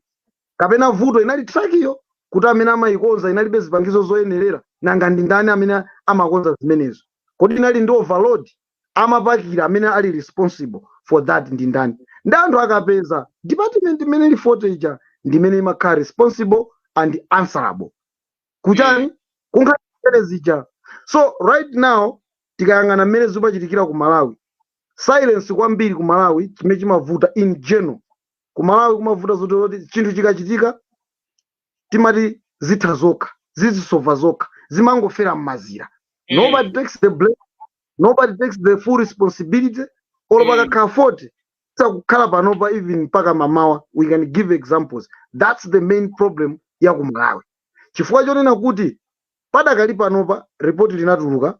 kapena vuto inali trakiyo kuti amene amayikonza inalibe zipangizo zoyenerera nanga ndi ndani amene amakonza zimenezo kodi inali ndi overload amapakira amene ali responsible for that ndi ndani ndi anthu akapeza department imene ili fote ija ndi imene imakhala responsible and answerable ku nkhani zija so right now tikayang'ana mmene zimachitikira ku malawi silence kwambiri ku malawi chimene chimavuta in general kumalawi kumavuta zoti kuti chinthu chikachitika timati zitha zokha zizisova zokha zimangofera mmazira Mm. nobody takes the blame nobody takes the full responsibility or Mm. pakakhala fault sakukhala panopa even mpaka mamawa we can give examples that's the main problem ya ku malawi chifukwa chonena kuti padakali panopa ripoti linatuluka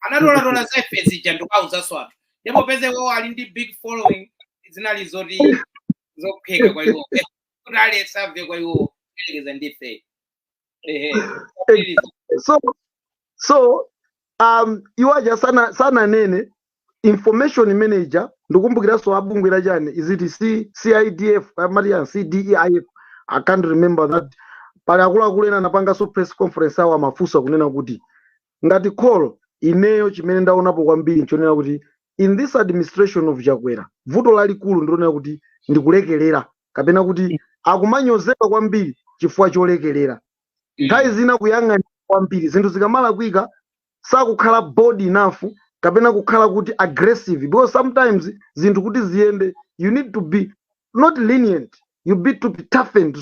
anatolatola za ife zija ndikuwauzaso anthu ndipo poti iwowo ali ndi big following zinali zoti zophweka kwa iwowo Eh, kuti aliyense amve kwa iwowo kuyerekeza ndi ife ehe so so um iwo aja sana sananene information imene ija ndikumbukiranso a bungwe la chani is it C- CDEDI amati ya CDEDI i can't remember that pali akuluakulu ena anapanganso press conference iwo amafunsa kunena kuti ngati call ineyo chimene ndaonapo kwambiri nchonena kuti in this administration of chakwera vuto lalikulu ndilonena kuti ndikulekelera kapena kuti akumanyozeka kwambiri chifukwa cholekelera nthawi zina kuyang'anira kwambiri zinthu zikamalakwika sakukhala bold enough kapena kukhala kuti aggressive because sometimes zinthu kuti ziyende you need to be not lenient you need to be tough and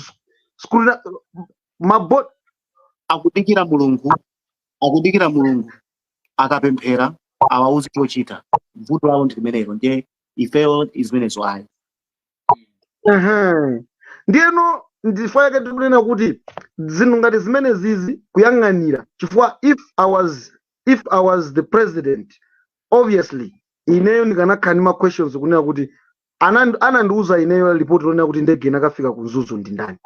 scrutini- mabo akudikira mulungu akudikira mulungu akapemphera awauze chochita vuto lawo ndi limenelo ndiye ifeyo zimenezo ayi Ehe. ndiyeno ndifo yake tikunena kuti zinthu ngati zimenezizi kuyang'anira chifukwa if i was if i was the president obviously ineyo ndikanakhala ndi ma questions kunena kuti anandi- anandiuza ineyo lipoti lonena kuti ndege inakafika ku mzuzu ndi ndani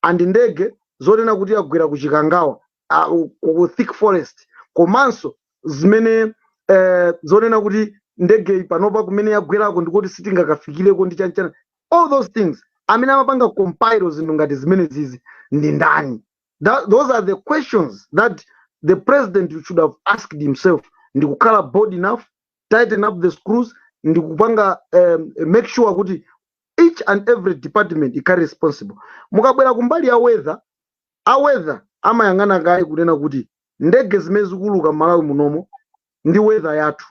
and ndege zonena kuti yagwera ku chikangawa ah, ku ku thick forest komanso zimene eh, zonena kuti ndegeyi panopa kumene yagwerako ndikuti sitingakafikireko ndi chanchana all those things amene amapanga compile zinthu ngati zimenezizi ndi ndani Tha- those are the questions that the president should have asked himself ndi kukhala bold enough tighten up the screws ndi kupanga um, make sure kuti each and every department ikhale responsible mukabwera kumbali ya weather a weather amayang'ana kaye kunena kuti ndege zimene zikuuluka m'Malawi munomo ndi weather yathu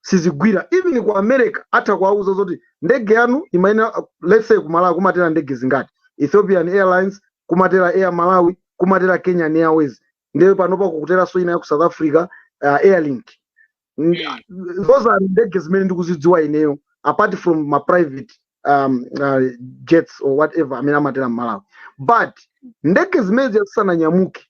sizigwira even ku america atha kuwauza zoti ndege yanu imayenera uh, let's say ku Malawi kumatera ndege zingati ethiopian airlines kumatera air malawi kumatera kenyan airways ndiye panopa kukuteranso ina ya ku south africa uh, airlink N- Mm. those are ndege zimene ndikuzidziwa ineyo apart from ma private um, uh, jets or whatever amene amatera mmalawi but ndege zimene zisananyamuke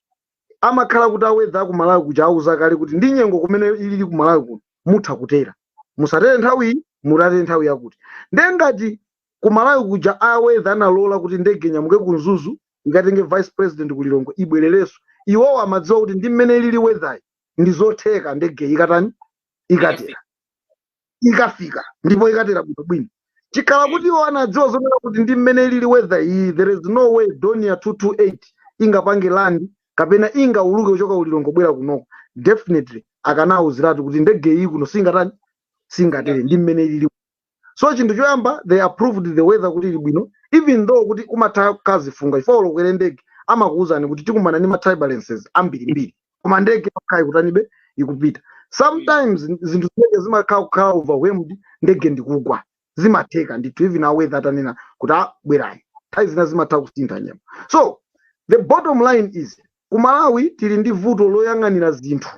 amakhala kuti a weather aku malawi kuja awauza kale kuti ndi nyengo mmene ilili ku malawi kuno mutha kutera musatere nthawi iyi mukatere nthawi yakuti ndiye ngati ku malawi kuja a weather analola kuti ndege inyamuke ku mzuzu ikatenge vice president ku lilongwe ibwererenso iwowo amadziwa kuti ndi mmene ilili weatheryi ndi zotheka ndegeyi ikatani ikatera ikafika ndipo ikatera bwino bwino chikhala kuti iwo anadziwa zonena kuti ndi mmene ilili weather iyi there is no way Dornier 228 ingapange land kapena ingauluke kuchoka ku Lilongwe kubwera kunoko definitely akanauziratu kuti ndege iyi kuno singatani singatere ndi mmene ilili so chinthu choyamba they approved the weather kuti ili bwino even though kuti kumatha kuchita chifunga chifukwa olo mukwere ndege amakuwuzani kuti tikumana ndi ma turbulences ambirimbiri koma ndege yokhayi ikutanibe ikupita sometimes zinthu zimene zimakhala ikukhala overwhelmed ndege ndikugwa zimatheka ndithu even a weather atanena kuti a bwerani nthawi zina zimatha kusintha nyengo so the bottom line is ku malawi tili ndi vuto loyang'anira zinthu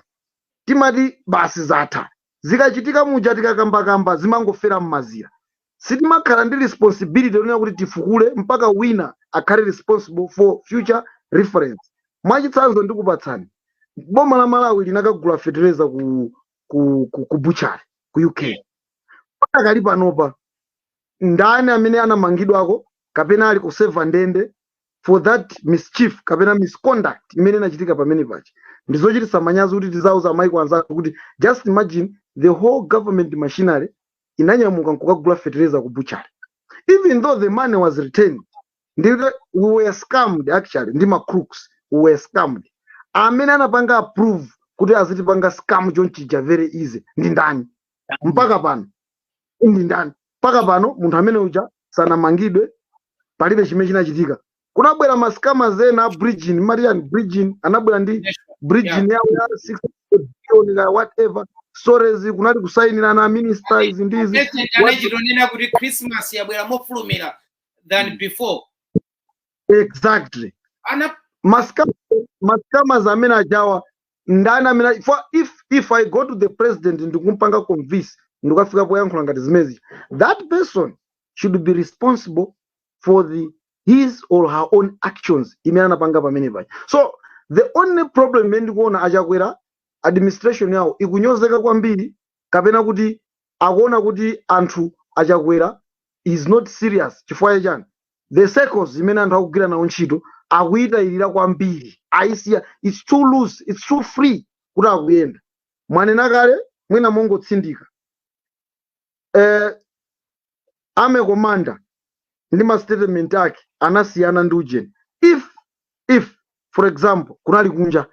timati basi zatha zikachitika muja tikakambakamba zimangofera mmazira. Sitimakhala ndi responsibility yonena kuti tifukule mpaka wina akhale responsible for future reference. Mwachitsanzo ndikupatsani, boma la Malawi linakagula fetereza ku, ku, ku, ku butchery ku UK. Pakali panopa ndani amene anamangidwako kapena ali kuseva ndende for that mischief kapena misconduct imene inachitika pamene paja ndi zochititsa manyazi kuti tiziwauza maiko anzathu kuti just imagine the whole government machinery inanyamuka nkukagula fetereza ku butchery even though the money was returned ndi we were scammed actually ndi ma crooks we were scammed amene anapanga approve kuti azitipanga scam chonchija very easy ndi ndani mpaka pano ndi ndani mpaka pano munthu amene uja sanamangidwe palibe chimene chinachitika kunabwera masikama zena a bridgin marian bridgin anabwera ndi bridgin yawo ya 6 billion kaya whatever stories kunali kusayinirana a minister izi ndi izi President What- anachitonena kuti Christmas yabwera mofulumira than before. exactly Ana ma scammers ma scammers amene ajawa ndani amene ali- for if if i go to the president ndikumpanga convince ndikafika poyankhula ngati zimenezi that person should be responsible for the his or her own actions imene anapanga pamene paja so the only problem imene ndikuona achakwera administration yawo ikunyozeka kwambiri kapena kuti akuona kuti a achakwera is not serious chifukwa chachani the circles imene anthu akugwira nawo ntchito akuyitayirira kwambiri ayisiya its too loose its too free kuti akuyenda mwanena kale mwina mongotsindika eh, army commander ndi ma statement ake anasiyana ndi ujeni if if for example kunali kunja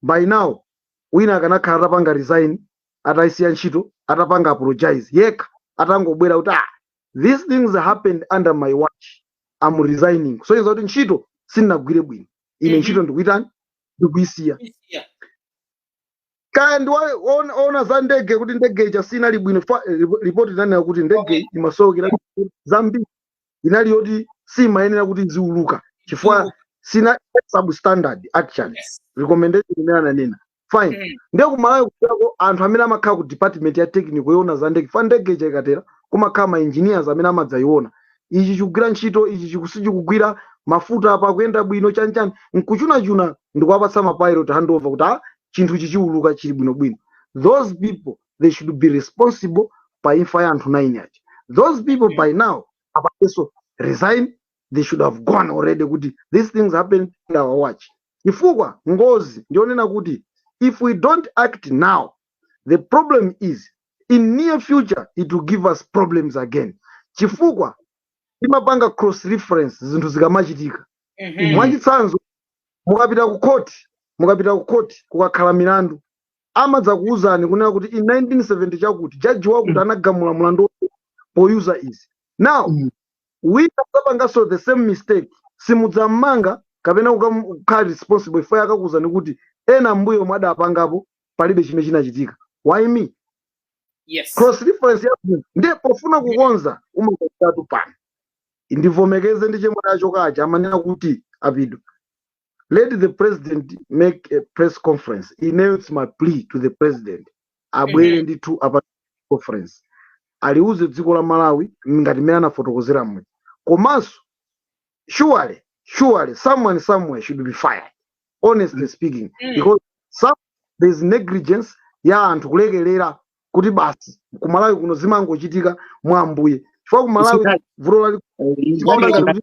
by now wina akanakhala atapanga resign ataisiya ntchito atapanga apologize yekha atangobwera kuti ah, these things happened under my watch am resigning kusonyeza kuti ntchito sindinagwire bwino ine Mhm. ntchito ndikuitani ndikuisiya Yeah. kaya ndi wo- woona woona za ndege kuti ndege ija sinali bwino fa- eh, ripoti linanena kuti ndege imasowekera zambiri inali yoti simayenera kuti iziuluka chifukwa Iwo- sina substandard actually yes. recommendation imene ananena fine Mm. ndiye kumalawi kuchako anthu amene amakhala ku department ya technical yoona za ndege fa ndege ija ikatera kumakhala ma engineers amene amadzayiona ichi chikugwira ntchito ichi chiku- sichikugwira mafuta apa akuyenda bwino chanichani nkuchunachuna ndikuwapatsa mapilot handover kuti a chinthu chichiuluka chili bwinobwino those people they should be responsible pa imfa ya anthu 9 aja those people by now apatenso resign they should have gone already kuti these things happen in our watch chifukwa ngozi ndiyonena kuti if we don't act now the problem is in near future it will give us problems again chifukwa timapanga cross reference zinthu zikamachitika mwachitsanzo mukapita ku court mukapita ku court kukakhala milandu amadzakuuzani kunena kuti in 1970 chakuti jaji wakuti anagamula mlandu wotere poyuza izizi now Mm. wina adzapanganso the same mistake simudzam'manga kapena kukam- kukhala responsible iwo akakuuzani kuti ena mmbuyomu omwe adapangapo palibe chimene chinachitika why me yes cross reference yabwino ndiye pofuna kukonza umakonzatu pano ndivomekeze ndi chemwali achokachi amanena kuti apido let the president make a press conference ineyo its my plea to the president abwere ndithu a press conference aliuze dziko la malawi ngati mmene anafotokozera muja komanso surely surely someone somewhere should be fired honestly speaking Mm. because some there's negligence ya anthu kulekelera kuti basi kumalawi kuno zimangochitika mwa ambuye chifukwa kumalawi vuto lali Isitali.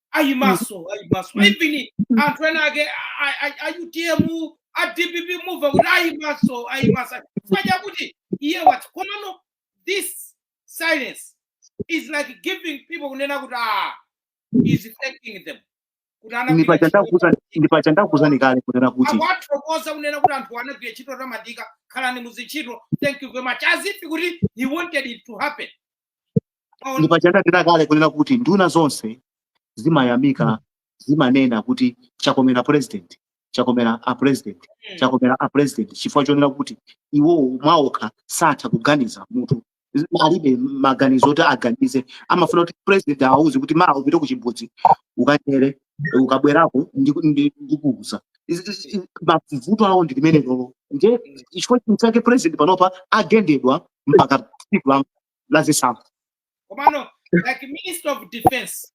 ayimanso ayimanso even anthu ena ake a- a- a utm a dpp mumva kuti ayimanso ayimanso chifukwa chakuti iye wati komano this silence is like giving people kunena kuti ah he is thanking them kuti anagwira ndipo ntchito chandakuza ndipo chandakuzani kale kunena kuti akuwathokoza kunena kuti anthu anagwira ntchito yotamandika khalani mmuzintchito thank you very much as if kuti he wanted it to happen ndipo paja ndanena kale kunena kuti nduna zonse zimayamika zimanena kuti chakomera president chakomera a president chakomera a president chifukwa chonena kuti iwowo mwaokha satha kuganiza mutu alibe maganizo oti aganize amafuna kuti president awuze kuti mawa upite ku chimbudzi ukanyere ukabwerako ndiku- ndi- ndikuuza Izi- izi- izi- mavuto awo ndi limenelolo nde chifukwa chake president panopa agendedwa mpaka tsiku la- la zisankho komano like minister of defense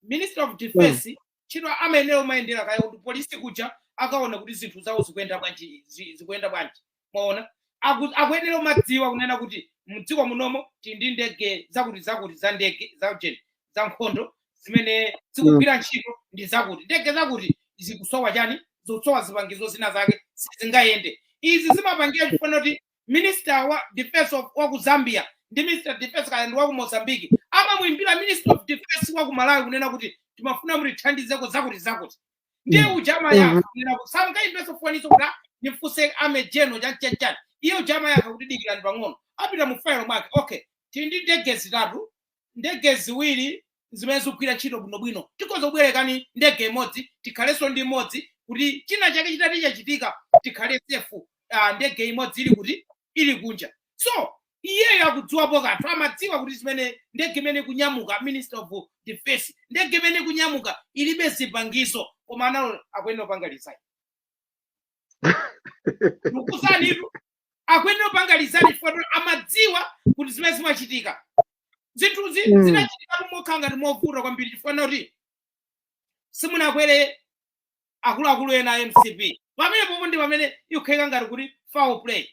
minister of defense ntchito amayenera kumayendera kaye ku police kuja akaona kuti zinthu zawo zikuyenda bwanji zi- zikuyenda bwanji mwaona Aku- akuyenera kumadziwa kunena kuti mdziko munomo tili ndi ndege zakuti zakuti za ndege za ujeni za nkhondo zimene zikugwira ntchito ndi zakuti ndege zakuti zikusowa chani zikusowa zipangizo zina zake sizingayende izi zimapangira chifukwa kuti minister wa defense of- wa ku zambia ndi minister of defense kaya ndi wa ku mozambique amamuimbira minister of defense wa ku malawi kunena kuti timafuna mutithandizeko zakuti zakuti ndiye uja amayankha kunena kuti asakayimbenso foninso kuti "Ah, ndimfunse a major general chanichanichani iye uja amayankha kuti dikirani pang'ono apita mu failo mwake okay tili ndi ndege zitatu ndege ziwiri zimene zikugwira ntchito bwinobwino tikhoza kukubwerekani ndege imodzi tikhalenso ndi imodzi kuti china chake chitati chachitika tikhale safe ah, ndege imodzi ili kuti ili kunja so iyeyo akudziwapo kanthu amadziwa kuti zimene ndege imene ikunyamuka minister of defense ndege imene ikunyamuka ilibe zipangizo koma analola akuyenera kupanga resign ndikukuuzanitu akuyenera kupanga resign chifukwa kuti amadziwa kuti zimene zimachitika zinthu zi- zinachitika mokhala ngati movuta kwambiri chifukwa kuti simunakwere akuluakulu ena a mcp pamene pompo ndi pamene ikukhala ngati kuti foul play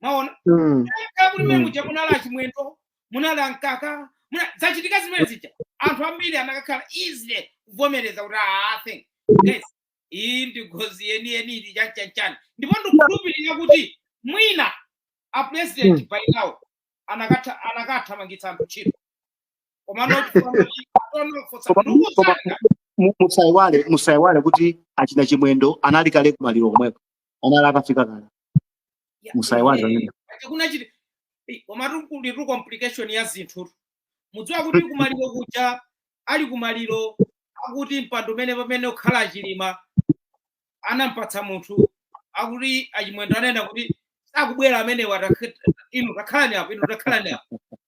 mwaona Mm. kaya kuti mene Mm. muja munali achimwendo munali ankaka muna- zachitika zimene zija anthu ambiri anakakhala easily kuvomereza kuti "Ah, I think guys iyi ndi ngozi yeniyeni ili chanchanchan ndipo ndikukhulupirira kuti mwina a president by now anakatha anakathamangitsa anthu ntchito komano chipano chi- chipano fotsa Koma- ndugu koma- zanga Mu- musaiwale musaiwale kuti achina chimwendo anali kale kumaliro komweko anali akafika kale Ya, musaiwale eh, pamene. ati kuna chiti eh, komatu kuli tu complication ya zinthu mudziwa kuti kumaliro kuja ali kumaliro akuti mpando umene pamene ukhala achilima anampatsa munthu akuti achimwendo ananena kuti sakubwera amenewo takh- inu takhalani apo inu takhalani apo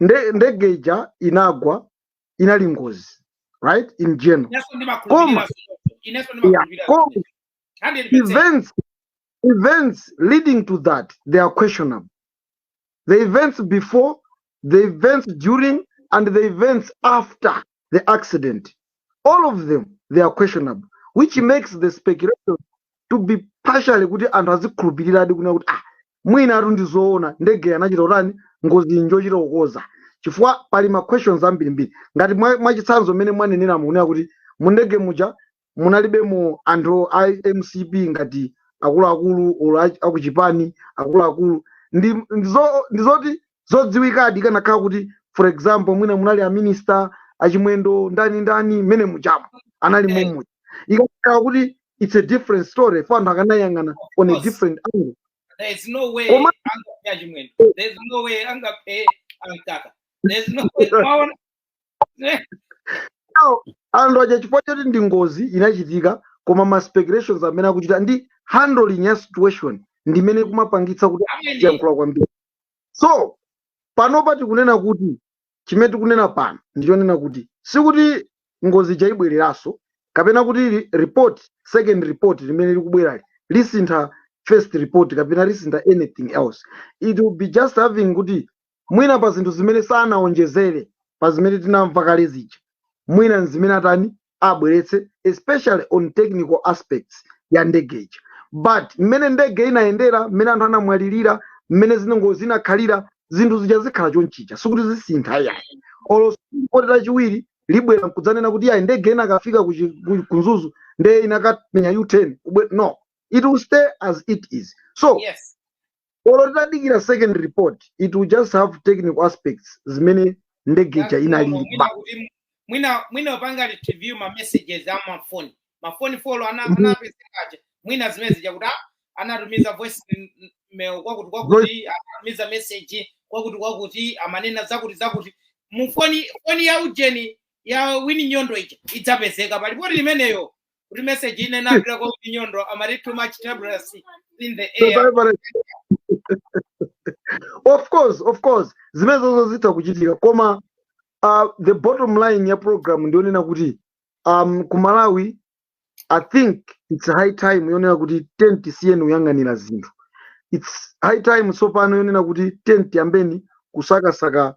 nde ndege ija inagwa inali ngozi right in general Inenso ndimakhulupirira koma zimenezo. Inenso yeah, ndimakhulupirira koma zimenezo. 100%. events events leading to that they are questionable the events before the events during and the events after the accident all of them they are questionable which makes the speculation to be partially kuti anthu azikhulupiriradi kunena kuti ah mwinatu ndi zoona ndege anachita utani ngozi njochita kukonza chifukwa pali ma questions ambirimbiri ngati mwa- mwachitsanzo mmene mwanenera mukunena kuti mu ndege muja munalibemo anthu a mcp ngati akuluakulu olo a- akuchipani akuluakulu ndi ndi zo- ndi zoti zodziwikadi ikanakhala kuti for example mwina munali a minister achimwendo ndani ndani mmene mujamo anali Eh. momuja ikanakhala kuti it's a different story coz anthu akanayang'ana on a course. different angle There is no way Koma- angaphe achimwendo. There is no way angaphe ankaka. There is no way. Mwaona? Now, anthu aja chifukwa choti ndi ngozi inachitika koma ma speculations amene akuchita ndi handling ya situation ndimene kumapangitsa kuti Amene. tiyankhula kwambiri so panopa tikunena kuti chimene tikunena pano ndichonena kuti sikuti ngozi ija ibwereranso kapena kuti li- report second report limene likubwerali lisintha first report kapena lisintha anything else it will be just having kuti mwina pa zinthu zimene sanaonjezere pa zimene tinamva kale zija mwina nzimene atani abweretse especially on technical aspects ya ndege ija but mmene ndege inayendera mmene anthu anamwalirira mmene zinengo zinakhalira zinthu zija zikhala chonchija sikuti zisintha yayi olo ripoti lachiwiri libwera nkudzanena kuti yayi ndege inakafika ku chi- ku- ku mzuzu ndeye inakamenya u-turn kubwe no it will stay as it is so yes olo titadikira second report it will just have technical aspects zimene ndege ija inalili normal. Mwina kuti mwina mwina upanga review ma messages a mafoni mafoni folo ana Mhm. anapezeka aja mwina zimene zija kuti ah, anatumiza voice m- m- mail kwakuti kwakuti anatumiza message kwakuti kwakuti amanena zakuti zakuti mufoni foni ya ujeni ya Win Nyondo ija idzapezeka pa ripoti limeneyo kuti message ine napita kwa Nyondo amati too much turbulence in the air of course of course zimenezozo zitha kuchitika koma uh, the bottom line ya program ndiyonena kuti um, ku Malawi I think it's high time yonena kuti tent siyeni kuyang'anira zinthu it's high time tsopano yonena kuti tent yambeni kusakasaka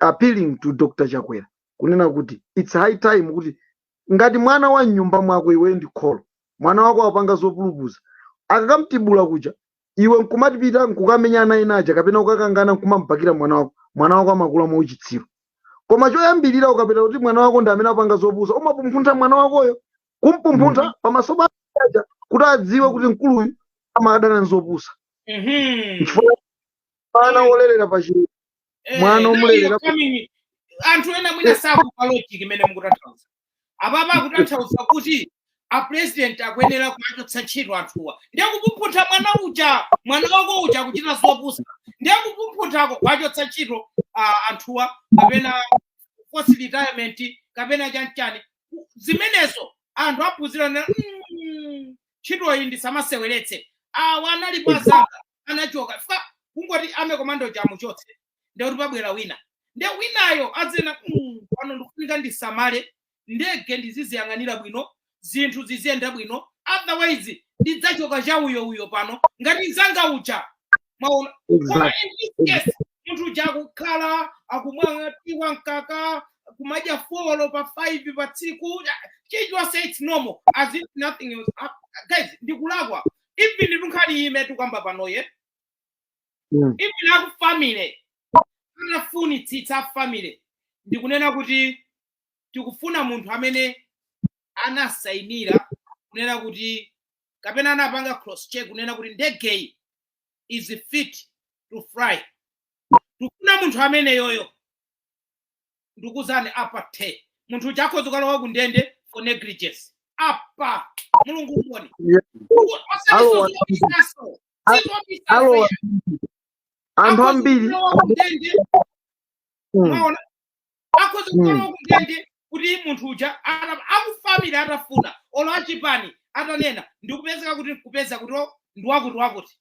appealing to Dr Chakwera kunena kuti it's high time kuti ngati mwana wa mnyumba mwako iwe ndi kholo mwana wako wapanga zopulupudza akakamtibula kuja iwe nkumapita nkukamenya ana ena aja kapena ukakangana nkumambakira mwana wako mwana wako amakula mwa uchitsiru koma choyambirira ukapeza kuti mwana wako ndi amene wapanga zopusa umampumphuntha mwana wakoyo kumpumphuntha pamaso pa aja kuti adziwe kuti mkuluyu amadana nzopusa Mhm. chifukwa mwana wolerera pa chilezi Eh, mwana now you're omulerera ku- coming anthu ena mwina eh, sakumva logic imene mukutanthauza apapa eh, akutanthauza kuti a president akuyenera kuwachotsa ntchito anthuwa ndiye kupumphuntha mwana uja mwana wako uja akuchita zopusa ndiye kupumphunthako kuwachotsa ntchito ah, anthuwa kapena forced retirement kapena chanchani zimenezo anthu aphunzirana mm, ntchitoyi ndisamayiseweretse awa anali kwa anzanga anachoka chifukwa kungoti army commander amuchotse ndekuti pabwera wina nde winayo adzanena "Mm, pano ndikufunika ndisamale ndege ndiziziyang'anira bwino zinthu ziziyenda bwino otherwise ndidzachoka cha uyo uyo pano ngati nzanga uja mwaona koma in this case munthu uja akukhala nkumwa tiyi wa mkaka kumadya folo pa 5 pa tsiku chilichonse it's normal as if nothing else hap- guys ndikulakwa even pa nkhani imene tukamba panoye Mm. even akufamily anafunitsitsa a family ndikunena kuti tikufuna munthu amene anasainira kunena kuti kapena anapanga cross check kunena kuti ndegeyi is fit to fly tikufuna munthu ameneyoyo ndikuzani apa the munthu uja akhoza kukalowa ku ndende for negligence apa mulungu mboni Yeah. Alowa- osati zoziyaso alowa anthu ambiri ku ndende mm, mwaona akhoza Mm. kukalowa ku ndende kuti munthu uja ana- akufamily atafuna olo achipani atanena ndikupezeka kuti kupeza kuti o, ndi wakuti wakuti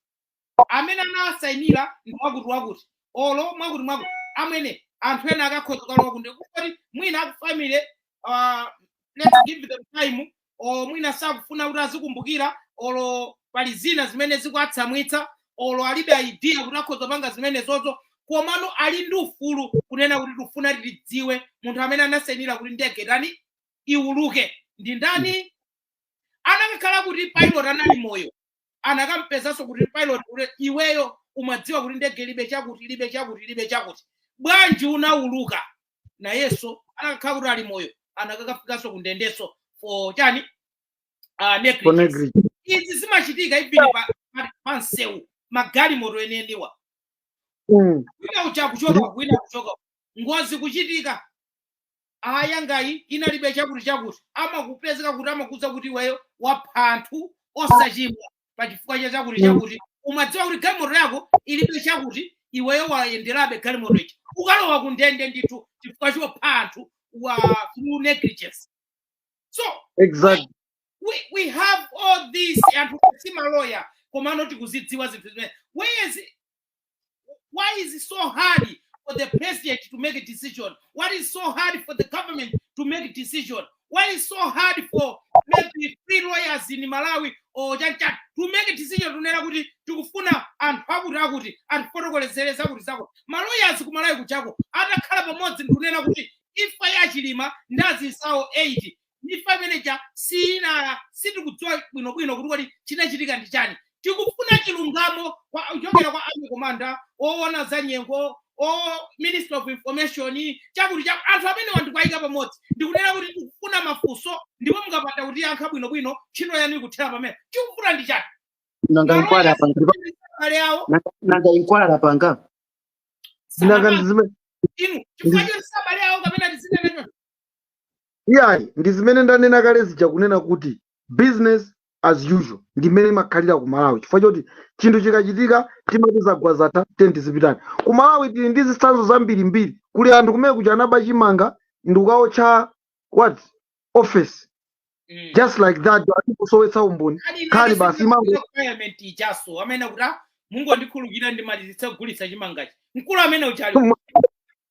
amene anawasainira ndi wakuti wakuti olo mwakuti mwakuti amwene anthu ena akakhoza kukalowa kundende kuti mwina aku family uh, let's give them time olo mwina sakufuna kuti azikumbukira olo pali zina zimene zikuatsamwitsa olo alibe idea kuti akhoza kupanga zimenezo komano ali ndi ufulu kunena kuti tikufuna tidziwe munthu amene anasainira kuti ndege itani iwuluke ndi ndani anakakhala kuti pilot anali moyo anakampezanso kuti pilot kuti iweyo umadziwa kuti ndege ilibe chakuti ilibe chakuti ilibe chakuti bwanji unauluka nayenso anakakhala kuti ali moyo anakakafikanso ku ndendenso for chani uh, negligence Konegri. Izi zimachitika even pa, pa, pa msewu magalimoto eneniwa Mm. wina ucha kuchoka wina kuchoka ngozi kuchitika ah yangayi inalibe chakuti chakuti amakupezeka kuti amakuuza kuti iweyo wapha anthu osachimwa pa chifukwa cha chakuti chakuti umadziwa kuti galimoto yako ilibe chakuti iweyo wayenderabe galimoto ichi ukalowa ku ndende ndithu chifukwa chopha anthuwa through negligence so exactly we, we have all this anthufe si maloya komano tikuzidziwa zinthu zimene whereas Why is it so hard for the president to make a decision? Why is so hard for the government to make a decision? Why is so hard for maybe three lawyers in Malawi or Jancha to make a decision n'kunena kuti tikufuna anthu akuti akuti atifotokozere zakuti zakuti maloyers kumalawi kujaku atakhala pamodzi ndikunena kuti imfa ya Chilima ndi anzawo 8 imfa imene ija siyinala sitikudziwa bwinobwino kuti kodi chinachitika ndi chani tikufuna chilungamo kwa- kuchokera kwa army commander owona za nyengo o minister of information chakuti cha anthu amene awa n'kuwayika pamodzi ndikunena kuti tikufuna mafunso ndipo mukapanda kutiyankha bwinobwino ntchito yanu ikuthera pamenepa chikuvuta ndi chani nanga inquiry Malonda apanga abale awo nanga- nanga inquiry apanga nanga sanapanga ndizime inu chifukwa choti sabale awo kapena tizineneno iyayi ndi zimene ndanena kale zija kunena kuti business as usual ndi mmene imakhalira ku malawi chifukwa choti chinthu chikachitika timati zagwa zatha tiyeni zipitani ku malawi tili ndi zitsanzo zambirimbiri kuli anthu kumene kuja anaba chimanga ndikukaotcha warehouse Mm. just like that n'kusowetsa umboni Ali nkhani imene basi imango requirement ijanso amanena kuti "Ah, mungondikhululukira ndimalizitse kugulitsa chimangachi mkulu amene uja ali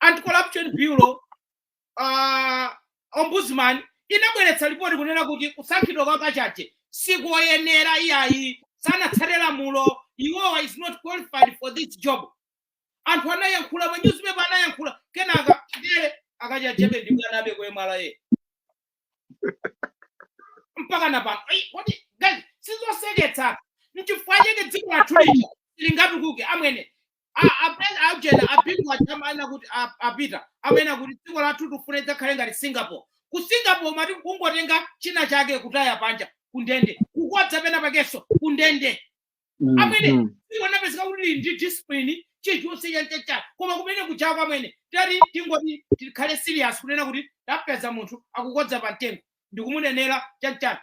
anti corruption bureau uh, ombudsman inabweretsa lipoti kunena kuti kusankhidwa kwa kachaje sikoyenera iyayi, sanatsate lamulo iwowa is not qualified for this job anthu anayankhula ma newspaper anayankhula kenaka ndiye akachajebe ndi mwana abe kuemala ye mpaka na pano Ai, kodi guys sizoseketsa nchifukwa chake dziko lathu lino silingatukuke amwene A- ape- aujena apingu akumanena kuti a- apita amanena kuti dziko lathu tikufuna lidzakhale ngati singapore ku singapore mati kungotenga china chake kutaya panja kundende kukodza penapakenso kundende Mm, amene mm. dziko lapezeka kuti lili ndi discipline chilichonse chanchacha koma kumene kujaku amwene tati tingoti tikhale serious kunena kuti tapeza munthu akukodza pa mtengo ndikumunenera chanchani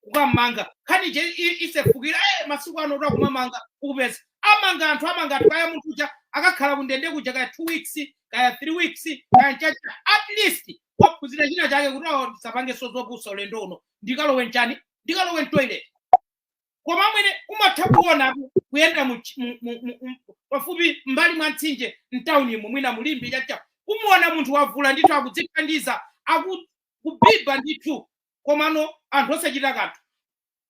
kukam'manga nkhani ije i- isefukira eh, masiku ano kuti akumamanga ukapeza amanga anthu amanga anthu kaya munthu uja akakhala kundende kuja kaya two weeks kaya three weeks kaya chacha at least waphunzira china chake kuti ah ndisapangenso zopusa ulendo uno ndikalowe nchani ndikalowe ntoilet koma amwene kumatha kuona ku- kuyenda mu- mu- mu- mu- mu- pafupi mbali mwa mtsinje mtaunimo mwina mu Limbe chacha kumuona munthu wavula ndithu akudzithandiza akubiba ndithu komano anthu osachita kanthu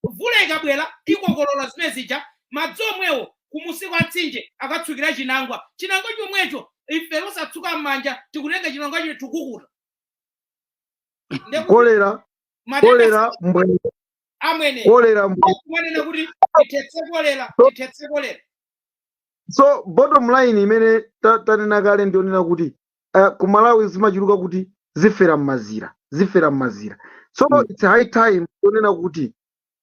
mvula ikabwera ikokolola zimene zija madzi omwewo kumunsi kwa mtsinje akatsukira chinangwa chinangwa chomwecho ife osatsuka m'manja tikutenga chinangwa chomwe tikukuta Ndiye kuti kolera matenda kolera mbwee amwene kolera mbwee kumanena kuti tithetse kolera tithetse kolera so bottom line imene ta- tanena kale ndiyonena kuti uh, ku malawi zimachuluka kuti zifera mmazira zifera mmazira so mm. it's high time yonena kuti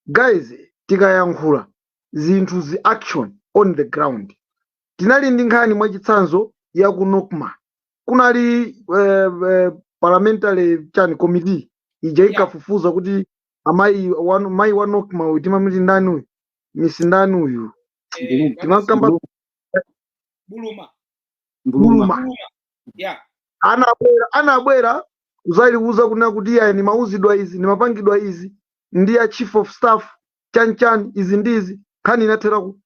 guys tikayankhula zinthu zi action on the ground tinali ndi nkhani mwachitsanzo ya ku nokma kunali eh, eh, parliamentary chani committee ija Yeah. ikafufuza kuti amayi wa, mayi wa nokma uyu timawati ndani uyu miss ndani uyu Eh, Ndi Buluma. timakamba buluma buluma Buluma. Yeah. anabwera anabwera kuzatiuza kunena kuti iyayi ndimauzidwa izi ndimapangidwa izi ndi a chief of staff chanchani izi ndi izi nkhani inathera ku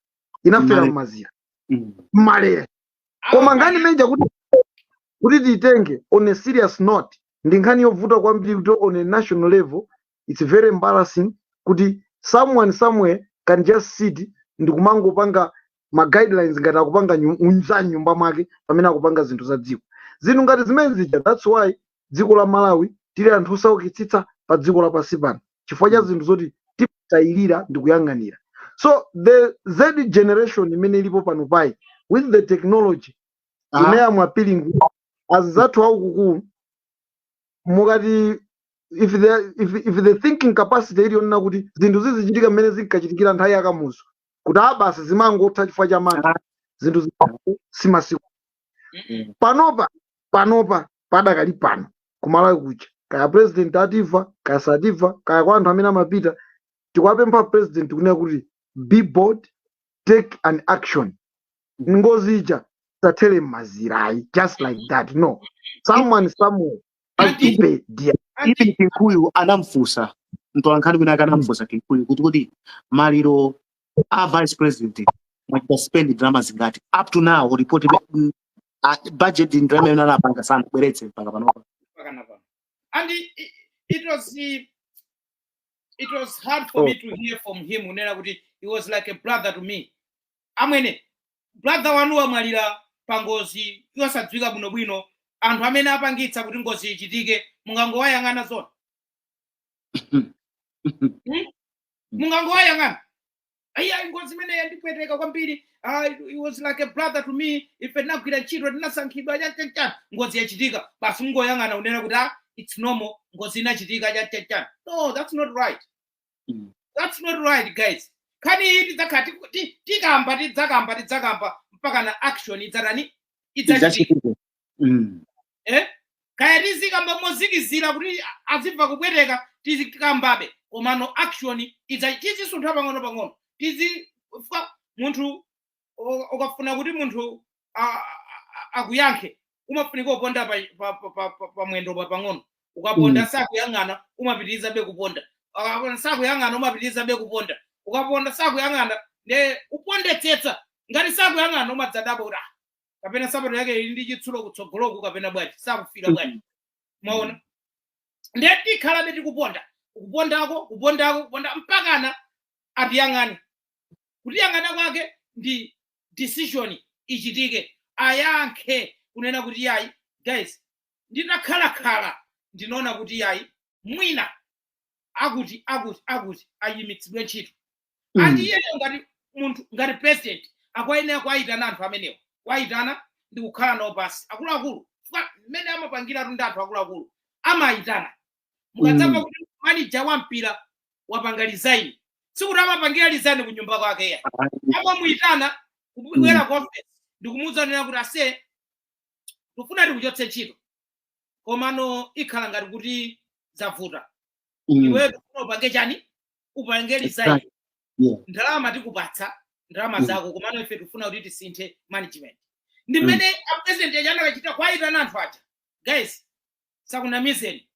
inafera Mmalere. mmazira Mm. mmalere koma nkhani imeneyi kuti kuti tiyitenge on a serious note ndi nkhani yovuta kwambiri kuti on a national level its very embarrassing kuti someone somewhere can just sit ndikumangopanga ma guidelines ngati akupanga nyu- za nyumba mwake pamene akupanga zinthu za dziko zinthu ngati zimene zija that's why dziko la malawi tili anthu osaukitsitsa pa dziko lapansi pano chifukwa cha zinthu zoti timatayirira ndi kuyang'anira so the z generation imene ilipo pano payi with the technology Ah. imene amamvetsa azizathu akuluakulu mukati if the, if, if the thinking capacity iliyonena kuti zinthu zizichitika mmene zinkachitikira nthawi yakamuzu kuti abasi zimangotha chifukwa cha mantha zinthu zi- si masiku Mm. panopa panopa padakali pano kumalawi kuja kaya president atimva kaya satimva kaya kwa anthu amene amapita tikuwapempha president kunena kuti be bold take an action ngozi ija isathere mmazira ayi just like that no someone somewhere has to Ati- pay dear ati- even Kunkuyu anamfunsa mtolankhani wina ake anamfunsa Kunkuyu kuti kuti maliro a vice president mwachita spend ndalama zingati up to now report mm, ah, budget ndalama imene anapanga sanabweretse mpaka panopa mpakana pano. And it, it, it was he, it was hard for Oh. me to hear from him. Kunena kuti he was like a brother to me. amwene brother wanu wamwalira pa ngozi yosadziwika bwinobwino anthu amene apangitsa kuti ngozi ichitike mungangowayang'ana zona Hmm? mungangowayang'ana ayi ngozi imeneyi yandipweteka kwambiri ah, he was like a brother to me ife tinagwira ntchito tinasankhidwa chanichani ngozi yachitika basi mungoyang'ana kunena kuti ah, it's normal ngozi inachitika chanichani no that's not right Mm. that's not right guys nkhani iyi tidzakhala tiku- ti- tikamba tidzakamba tidzakamba mpaka na action idzatani idzachitika Idzachitike. Mm. eh? kaya tizikamba motsikizira kuti adzimva kupweteka tizikambabe komano action idza- tizisuntha pang'ono pang'ono tizi fa- munthu o- ukafuna kuti munthu a- a- akuyankhe umafunika kuponda pa, pa, pa, pa, pa, pa mwendo pa pang'ono ukaponda Mm. sakuyang'ana umapitirizabe kuponda Ukaponda sakuyang'ana umapitirizabe kuponda ukaponda sakuyang'ana nde upondetsetsa ngati sakuyang'ana umadzadabwa kuti "Ah, kapena sapato yake ili ndi chitsulo kutsogoloku kapena bwanji sakumva bwanji mwaona nde tikhalabe tikuponda kuponda kuponda kuponda mpakana atiyang'ane kutiyang'ana kwake ndi decision ichitike ayankhe kunena kuti yayi guys ndinakhalakhala ndinaona kuti yayi mwina akuti akuti akuti ayimitsidwe ntchito Mm. andi iyeyo ngati munthu ngati president akuyenera kuwayitana anthu amenewo kuwayitana ndi kukhala nawo pansi akuluakulu chifukwa mmene amapangiratu ndi anthu akuluakulu amayitana mukadzamva Mm. kuti manija wa mpira wapanga resign sikuti amapangira resign ku nyumba kwake ayi amamuyitana kubwera ku office ndikumuwuza kunena kuti aise tikufuna tikuchotse ntchito komano ikhala ngati kuti zavuta Mm. iweyo tikufuna upange chani upange resign Exactly. Yeah. ndalama tikupatsa ndalama Mm. zako komano ife tikufuna kuti tisinthe management ndi Mm. mmene apresident aja anakachita kwayitana anthu aja guys tisakunamizeni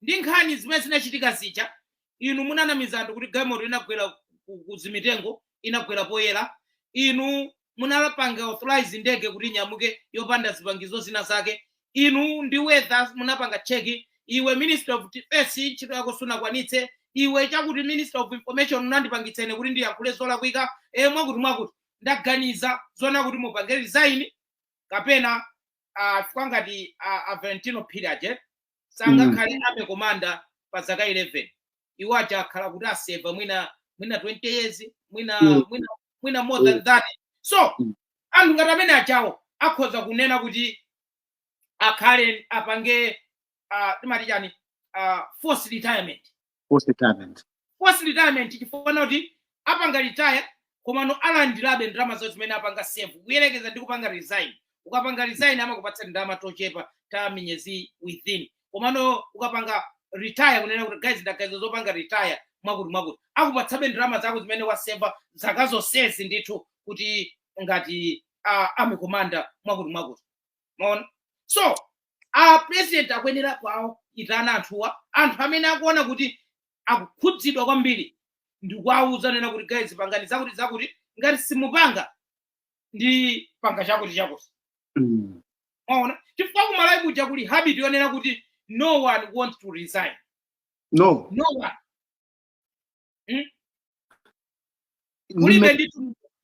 ndi nkhani zimene zinachitika zija inu munanamiza anthu kuti galimoto inagwera ku- ku zimitengo inagwera poyera inu munapanga authorize ndege kuti inyamuke yopanda zipangizo zina zake inu ndi weather munapanga cheki iwe minister of defense ntchito yako sunakwanitse iwe chakuti minister of information unandipangitsa ine kuti ndiyankhule zolakwika e mwakuti mwakuti ndaganiza zonena kuti mupange resign kapena ah, chifukwa ngati ah, a valentino phiri aja sangakhale army komanda pa zaka 11 iwo aja akhala kuti aseva mwina mwina 20 years mwina Mm. mwina mwina more than Mm. that so Mm. anthu ngati amene ajawo akhoza kunena kuti akhale apange ah, timati chani ah, forced retirement forced retirement forced retirement chifukwa kuti apanga retire komano alandirabe ndalama zawo zimene apanga serve kuyerekeza ndi kupanga resign ukapanga resign amakupatsa tindalama tochepa ta miyezi within komano ukapanga retire kunena kuti guys ndaganiza zopanga retire mwakuti mwakuti akupatsabe ndalama zako zimene waseva zaka zonsezi ndithu kuti ngati uh, army commander mwakuti mwakuti maona so a president akuyenera kuwaitana anthuwa anthu amene akuona kuti akukhudzidwa kwambiri ndikuwauza kunena kuti guys pangani zakuti zakuti ngati simupanga ndipanga chakuti chakuti Mm. maona chifukwa kumalawi kuja kuli habit yonena kuti no one wants to resign no no one kulibe ndi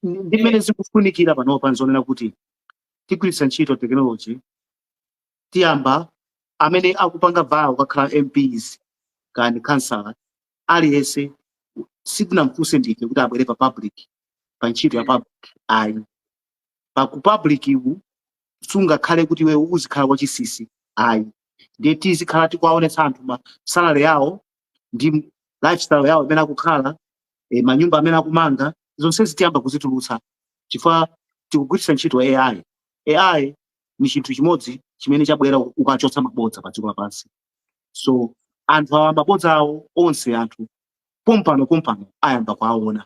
ndi mmene zikufunikira panopa nzonena kuti tigwiritsa ntchito tekinoloji tiyamba amene akupanga vaya kukhala mps kaya khansala aliyense sitinamfunse ndife kuti abwere pa public pa ntchito ya public ayi pa ku public ku sungakhale kuti iwe uzikhala wachisisi ayi ndiye tizikhala tikuwaonetsa anthu ma salary awo ndi lifestyle yawo imene akukhala eh, manyumba amene akumanga zonsezi tiyamba kuzitulutsa chifukwa tikugwiritsa ntchito ai ai ni chinthu chimodzi chimene chabwera kudzachotsa mabodza pa dziko lapansi so anthu awa mabodza awo onse anthu pompano pompano ayamba kuwaona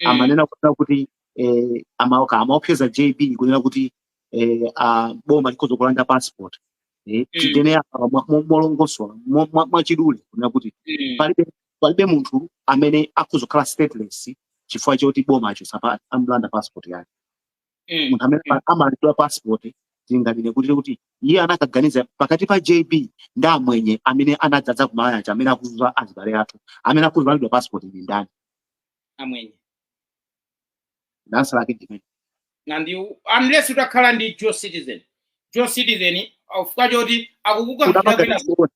mm. amanena kunena kuti eh, amaopse- amaopseza jb kunena kuti eh, ah, boma likhoza kulanda passport eh, Mm. tinene apa mwa- mwa- molongosola mwa- mwa- mwachidule kunena kuti Mm. palibe palibe munthu amene akhoza kukhala stateless chifukwa choti boma achotsa pa- amlanda passport yake Mm. munthu amene Mm. amalandidwa passport tinganene kuti kuti iye anakaganiza pakati pa jb ndi amwenye amene anadzadza ku malawi aja amene akuzunza azibale athu amene akulandidwa passport ndi ndani amwenye dansa lake ndimene and you, unless utakhala ndi dual citizen dual citizen chifukwa choti akukukankhira unapanga kwina disown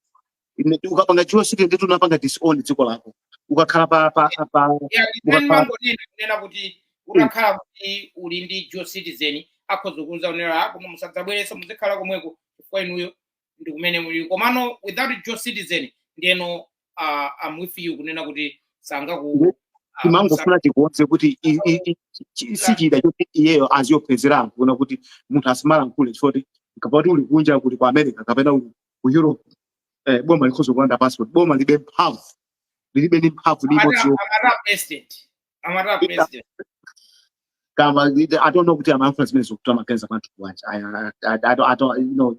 Ine- ukapanga dual citi- ndiye kuti unapanga disown dziko lako ukakhala pa pa pa Yeah, then ukakhala mangonena kunena kuti utakhala kuti uli ndi dual citizen akhoza kukuuza kunena "Ah, koma musadzabwerenso muzikhala komweko chifukwa inuyo ndi kumene uli komano without dual citizen ndiyeno uh, I'm with you kunena kuti sangaku timangofuna tikonze kuti i- i- i- chi- si chida choti iyeyo aziyopezera anthu kunena kuti munthu asamalankhule chifukwa choti ngati uli kunja uli ku america kapena uli ku europe eh, boma likhoza kulanda passport boma libe mphamvu lilibe ndi mphamvu ndi imodzi yo- akatira president amati president kamba i don't know kuti amayankhula zimene zikuti amaganiza kwa anthu akunja I, I, I, don't, I don't, you know,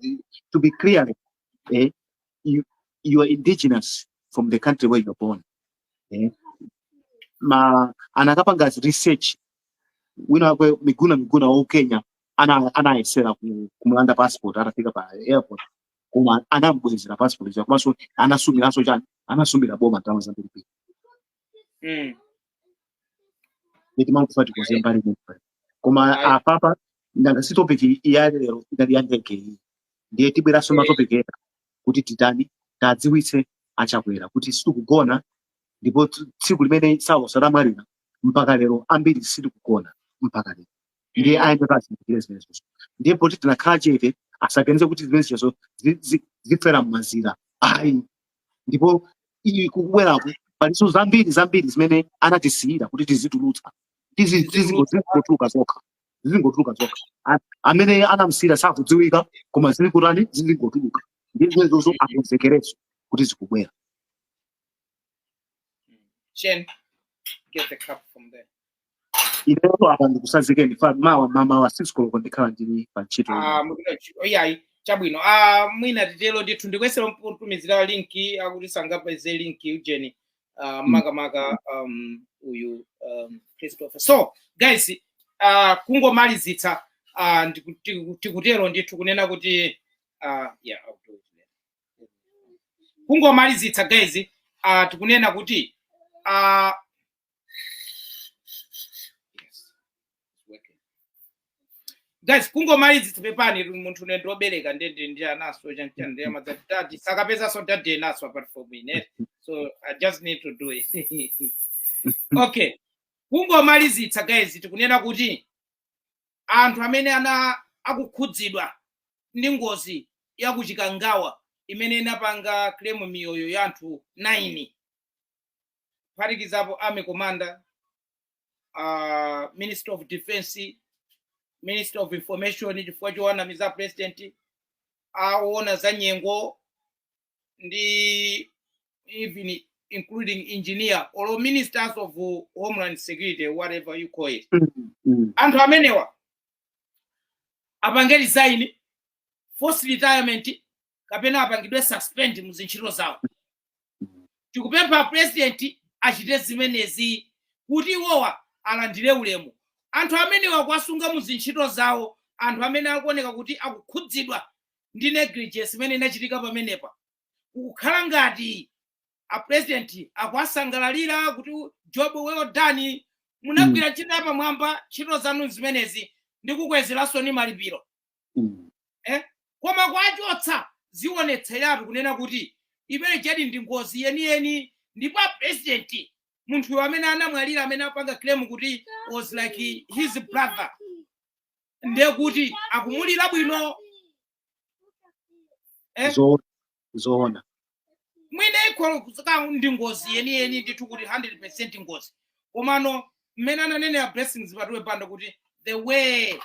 to be clear eh, you, you are indigenous from the country where you're born eh. mm. anakapanga research wina wake miguna miguna wa ku kenya anayesera ana ku, kumulanda passport atafika pa airport koma anamubwezera passport ija komanso anasumiranso chani anasumira boma ndalama zambiri mm. ndiye timangofuna tikonze mbali imeneyo koma Ayi. apapa nanga si topic ya lero inali ya ndege iyi ndiye tibweranso Eh. matopic ena kuti titani tadziwitse achakwera kuti sitikugona ndipo t- tsiku limene saulos atamwalira mpaka lero ambiri sitikugona mpaka lero ndiye ayenda azindikire zimenezo ndiye poti tinakhala chete asaganize kuti zimenezo zi- zi- zifera mmazira ayi ndipo iyi kukubweraku palinso zambiri zambiri zimene anatisiyira kuti tizitulutsa Tizi- tizingo- zizingotuluka zokha zizingotuluka zokha A- amene anamsiyira sakudziwika koma zilikutani zizingotuluka ndiye zimenezozo akonzekereso kuti zikubwera Chen, get the cup from there. inetu apa ndikusazikeni chifukwa mawa mamawa sisikoloko ndikhala ndili pa ntchito ine. Ah, mupita kuntchito iyayi chabwino ah, mwina titero ndithu ndikuyesera kumutumizira linki akuti sangapeze linki ujeni ah, makamaka um, uyu um, christopher so guys ah, kungomalizitsa ah, ndiku- tiku- tikutero ndithu kunena kuti ah, yeah, I'll do it later. kungomalizitsa guys ah, tikunena kuti ah, guys kungomalizitsa pepani munthu uyu ndi obereka nde ndi ananso chanchani ndi amadzati tati sakapezaso dad enanso apart from ine so i just need to do it okay kungomalizitsa guys tikunena kuti anthu amene ana akukhudzidwa ndi ngozi yakuchikangawa imene inapanga claim miyoyo ya anthu 9 kuphatikizapo army commander uh, minister of defense minister of information chifukwa chowanamiza president aona za nyengo ndi even including engineer or ministers of homeland security whatever you call it anthu amenewa apange resign force retirement kapena apangidwe suspend mu zintchito zawo tikupempha a president achite zimenezi kuti iwowa alandire ulemu anthu amenewa kuwasunga mu zintchito zawo anthu amene akuoneka kuti akukhudzidwa ndi negligence imene inachitika pamenepa kukukhala ngati a president akuwasangalalira kuti job well done munagwira ntchito yapamwamba ntchito zanu zimenezi ndikukwezeransoni malipiro Mm. eh? koma kuwachotsa zionetseratu kunena kuti inalidi ndi ngozi yeniyeni ndipo apresidenti munthuyo amene anamwalira amene apanga claim kuti was like his brother ndiye kuti akumulira bwino Eh? Zo- zoona mwina ikholo kuzika ndi ngozi yeniyeni ndithu kuti 100 percent ngozi komano mmene ananenera blessings patiwe banda kuti the way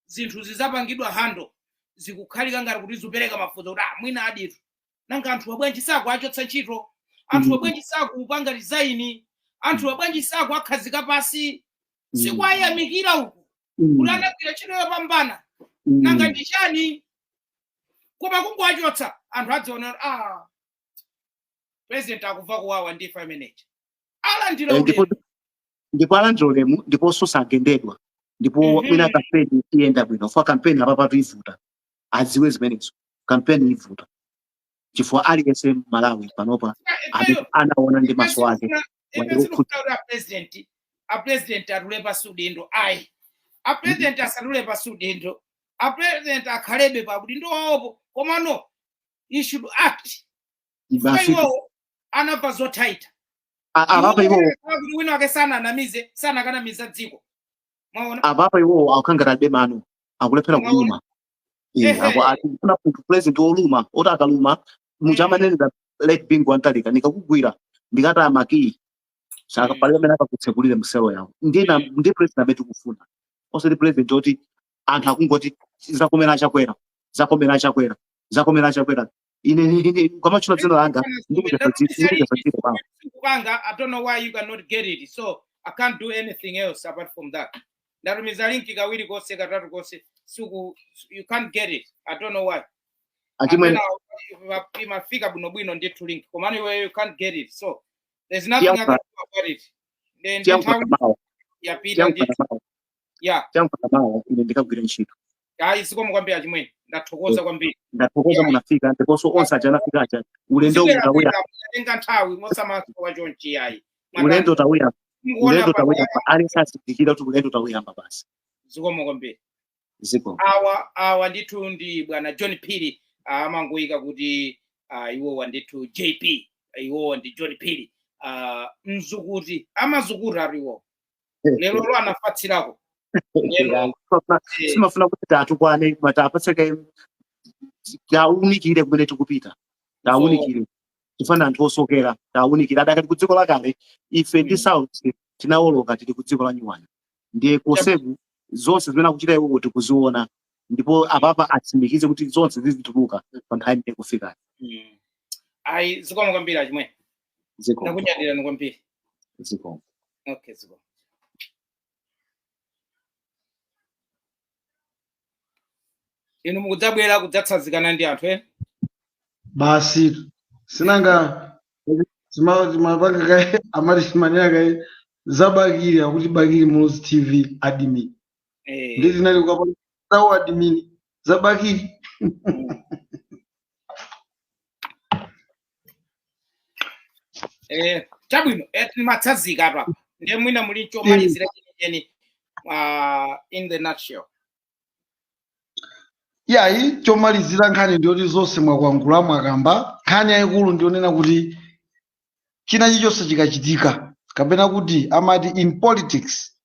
zinthu zinapangidwa handle zikukhala ngati kuti zikupereka mafunso kuti ah, mwinaditu nanga anthuwa bwanji sakuwachotsa ntchito anthu Mm. bwanji sakupanga resign anthuwa bwanji sakuwakhazika pansi sikuayamikira uku kuti anagwira ntchito yopambana nanga ndi chani koma kungowachotsa anthu adziona kuti a president akumva kuwawa ndi imfa imeneyi alandira Eh, ndipo ulemu ndipo alandira ulemu ndiponso sagendedwa ndipo Mhm. mwina kampeni iyenda bwino chifukwa kampeni apapatu ivuta adziwe zimenezo kampeni ivuta chifukwa aliyense mmalawi panopa amene anaona ndi maso ake sakufuna kuti apresidenti apresidenti atule pansi udindo ayi apresidenti asatule pansi udindo apresidenti akhalebe pa udindo wawopo komano he should act chifukwa basi iwowo anamva zotaita A- apapa iwo kuti wina wake sananamize sanakanamiza dziko mwaona apapa iwowo akukhala ngati alibe mano akulephera Mwaona? kuluma Eh, Ehe. aku- akufuna munthu president woluma oti akaluma muja Mm. amanenera late bingu wa mutharika ndikakugwira ndikataya makiyi Mm. palibe amene akakutsekulire mselo yawo ndiye president amene tikufuna osati president oti anthu akungoti zakomera achakwera zakomera achakwera zakomera achakwera ine ni- ine ukamatchula dzina langa Let me ndikuchotsa tell you, dzina ndikuchotsa dzina kwanga Kukanga, I don't know why you cannot get it. So I can't do anything else apart from that. Ndatumiza linki kawiri konse katatu konse siku you can't get it. I don't know why. achimwene Amena imafika bwino bwino ndithu link. Komano iwe you can't get it. So there's nothing I can Tiyankhula- do about it. Then tiyankhula nthawi mawa yapita tiyankhula ndithu. mawa ya chakumawa ine ndikagwira ntchito ayi zikomo kwambiri achimwene ndathokoza kwambiri ndathokoza munafika ndiponso onse aja anafika aja ulendo uwu tawuya tenga nthawi osamasowa chonchi ayi ulendo tawuya ulendo tawuyamba aliyense azindikira kuti ulendo tawuyamba basi zikomo kwambiri ziko awa awa ndithu ndi bwana john phiri ah, amangoyika kuti ah, iwowa ndithu jp iwowa ndi john phiri ah, mukuti amati mukuti ati iwowa lero lo anafatsirako Lero, eh, sitimafuna kuti tiwatukwane koma tiwapatseko tiwaunikire kumene tikupita tiwaunikire chifukwa ndi anthu osokera tiwaunikire adakali ku dziko lakale ife ndi Mm. south tinawoloka tili ku dziko la nyuwani ndiye koseku zonse zimene akuchita iwowo tikuziona ndipo apapa atsimikize kuti zonse zizituluka pa nthawi imene kufika mm. ayi zikomo kwambiri achimwene ziko takunyadirani kwambiri ziko okay ziko inu mukudzabwera kudzatsazikana ndi anthu ena basi sinanga zima- zimapanga kaye amati zimanena kaye za bakili akuti bakili muluzi tv admin Eh, ndi zinali ukapanga admin za bakili Eh, chabwino eh, mwatsazika apa ndiye mwina muli chomalizira chenicheni uh, in the nutshell iyayi chomalizira nkhani ndiyoti zonse mwakwangula mwakamba nkhani yayikulu ndiyonena kuti china chilichonse chikachitika kapena kuti amati in politics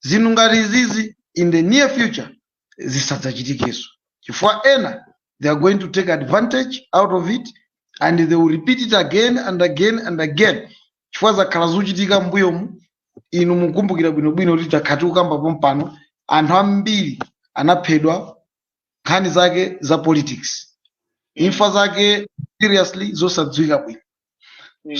zinthu ngati izizi in the near future zisadzachitikenso chifukwa ena they are going to take advantage out of it and they will repeat it again and again and again chifukwa zakhala zikuchitika mbuyomu inu mukumbukira bwinobwino kuti takhala tikukamba pompano anthu ambiri anaphedwa nkhani zake za politics imfa zake seriously zosadziwika bwino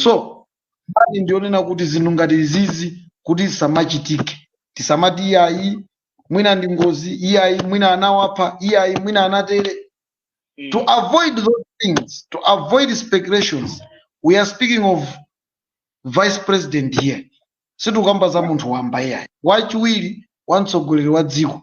so nkhani ndiyonena kuti zinthu ngati izizi kuti zisamachitike tisamati iyayi mwina ndi ngozi iyayi mwina anawapha iyayi mwina anatere to Mm. avoid those things to avoid speculations we are speaking of vice president here sitikukamba za munthu wamba iyayi wachiwiri wa mtsogoleri wa dziko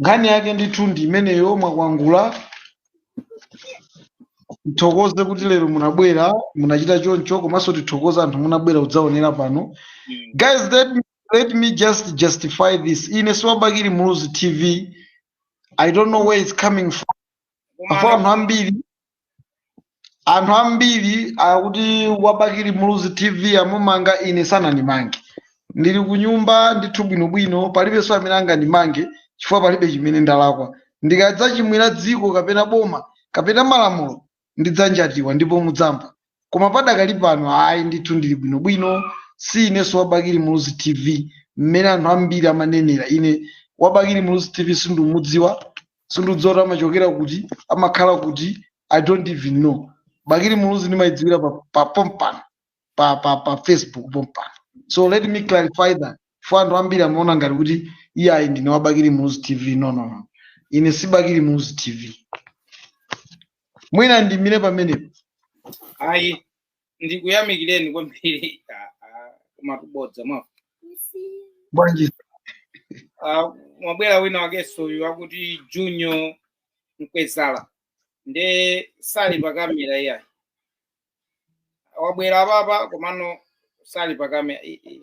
nkhani yake ndithu ndi imeneyo mwakwangula tithokoze kuti lero munabwera munachita choncho komanso tithokoze anthu munabwera kudzaonera pano guys let me, let me just justify this ine si wa bakili muluzi tv i don't know where it's coming from apo anthu ambiri anthu ambiri akuti wa bakili muluzi tv amumanga ine sanandimange ndili ku nyumba ndithu bwinobwino palibenso amene angandimange chifukwa palibe chimene ndalakwa ndikadzachimwira dziko kapena boma kapena malamulo ndidzanjatiwa ndipo mudzamva koma padakali pano ayi ndithu ndili bwinobwino si inenso wa bakili muluzi tv mmene anthu ambiri amanenera ine wa bakili muluzi tv sindumudziwa sindidziwa kuti amachokera kuti amakhala kuti i don't even know bakili muluzi ndimayidziwira pa, pa pompano pa, pa, pa facebook pompano so let me clarify that for anthu ambiri amaona ngati kuti iye ayi ndine wa bakili muluzi tv no no no ine si bakili muluzi tv mwina ndimire pamenepo ayi ndikuyamikireni kwambiri Ah, ah, koma kubodza mwa bwanji Ah, mwabwera wina wakenso uyu akuti junior mkwezala nde sali pa kamera iyayi wabwera apapa komano sali pa kamera I- i-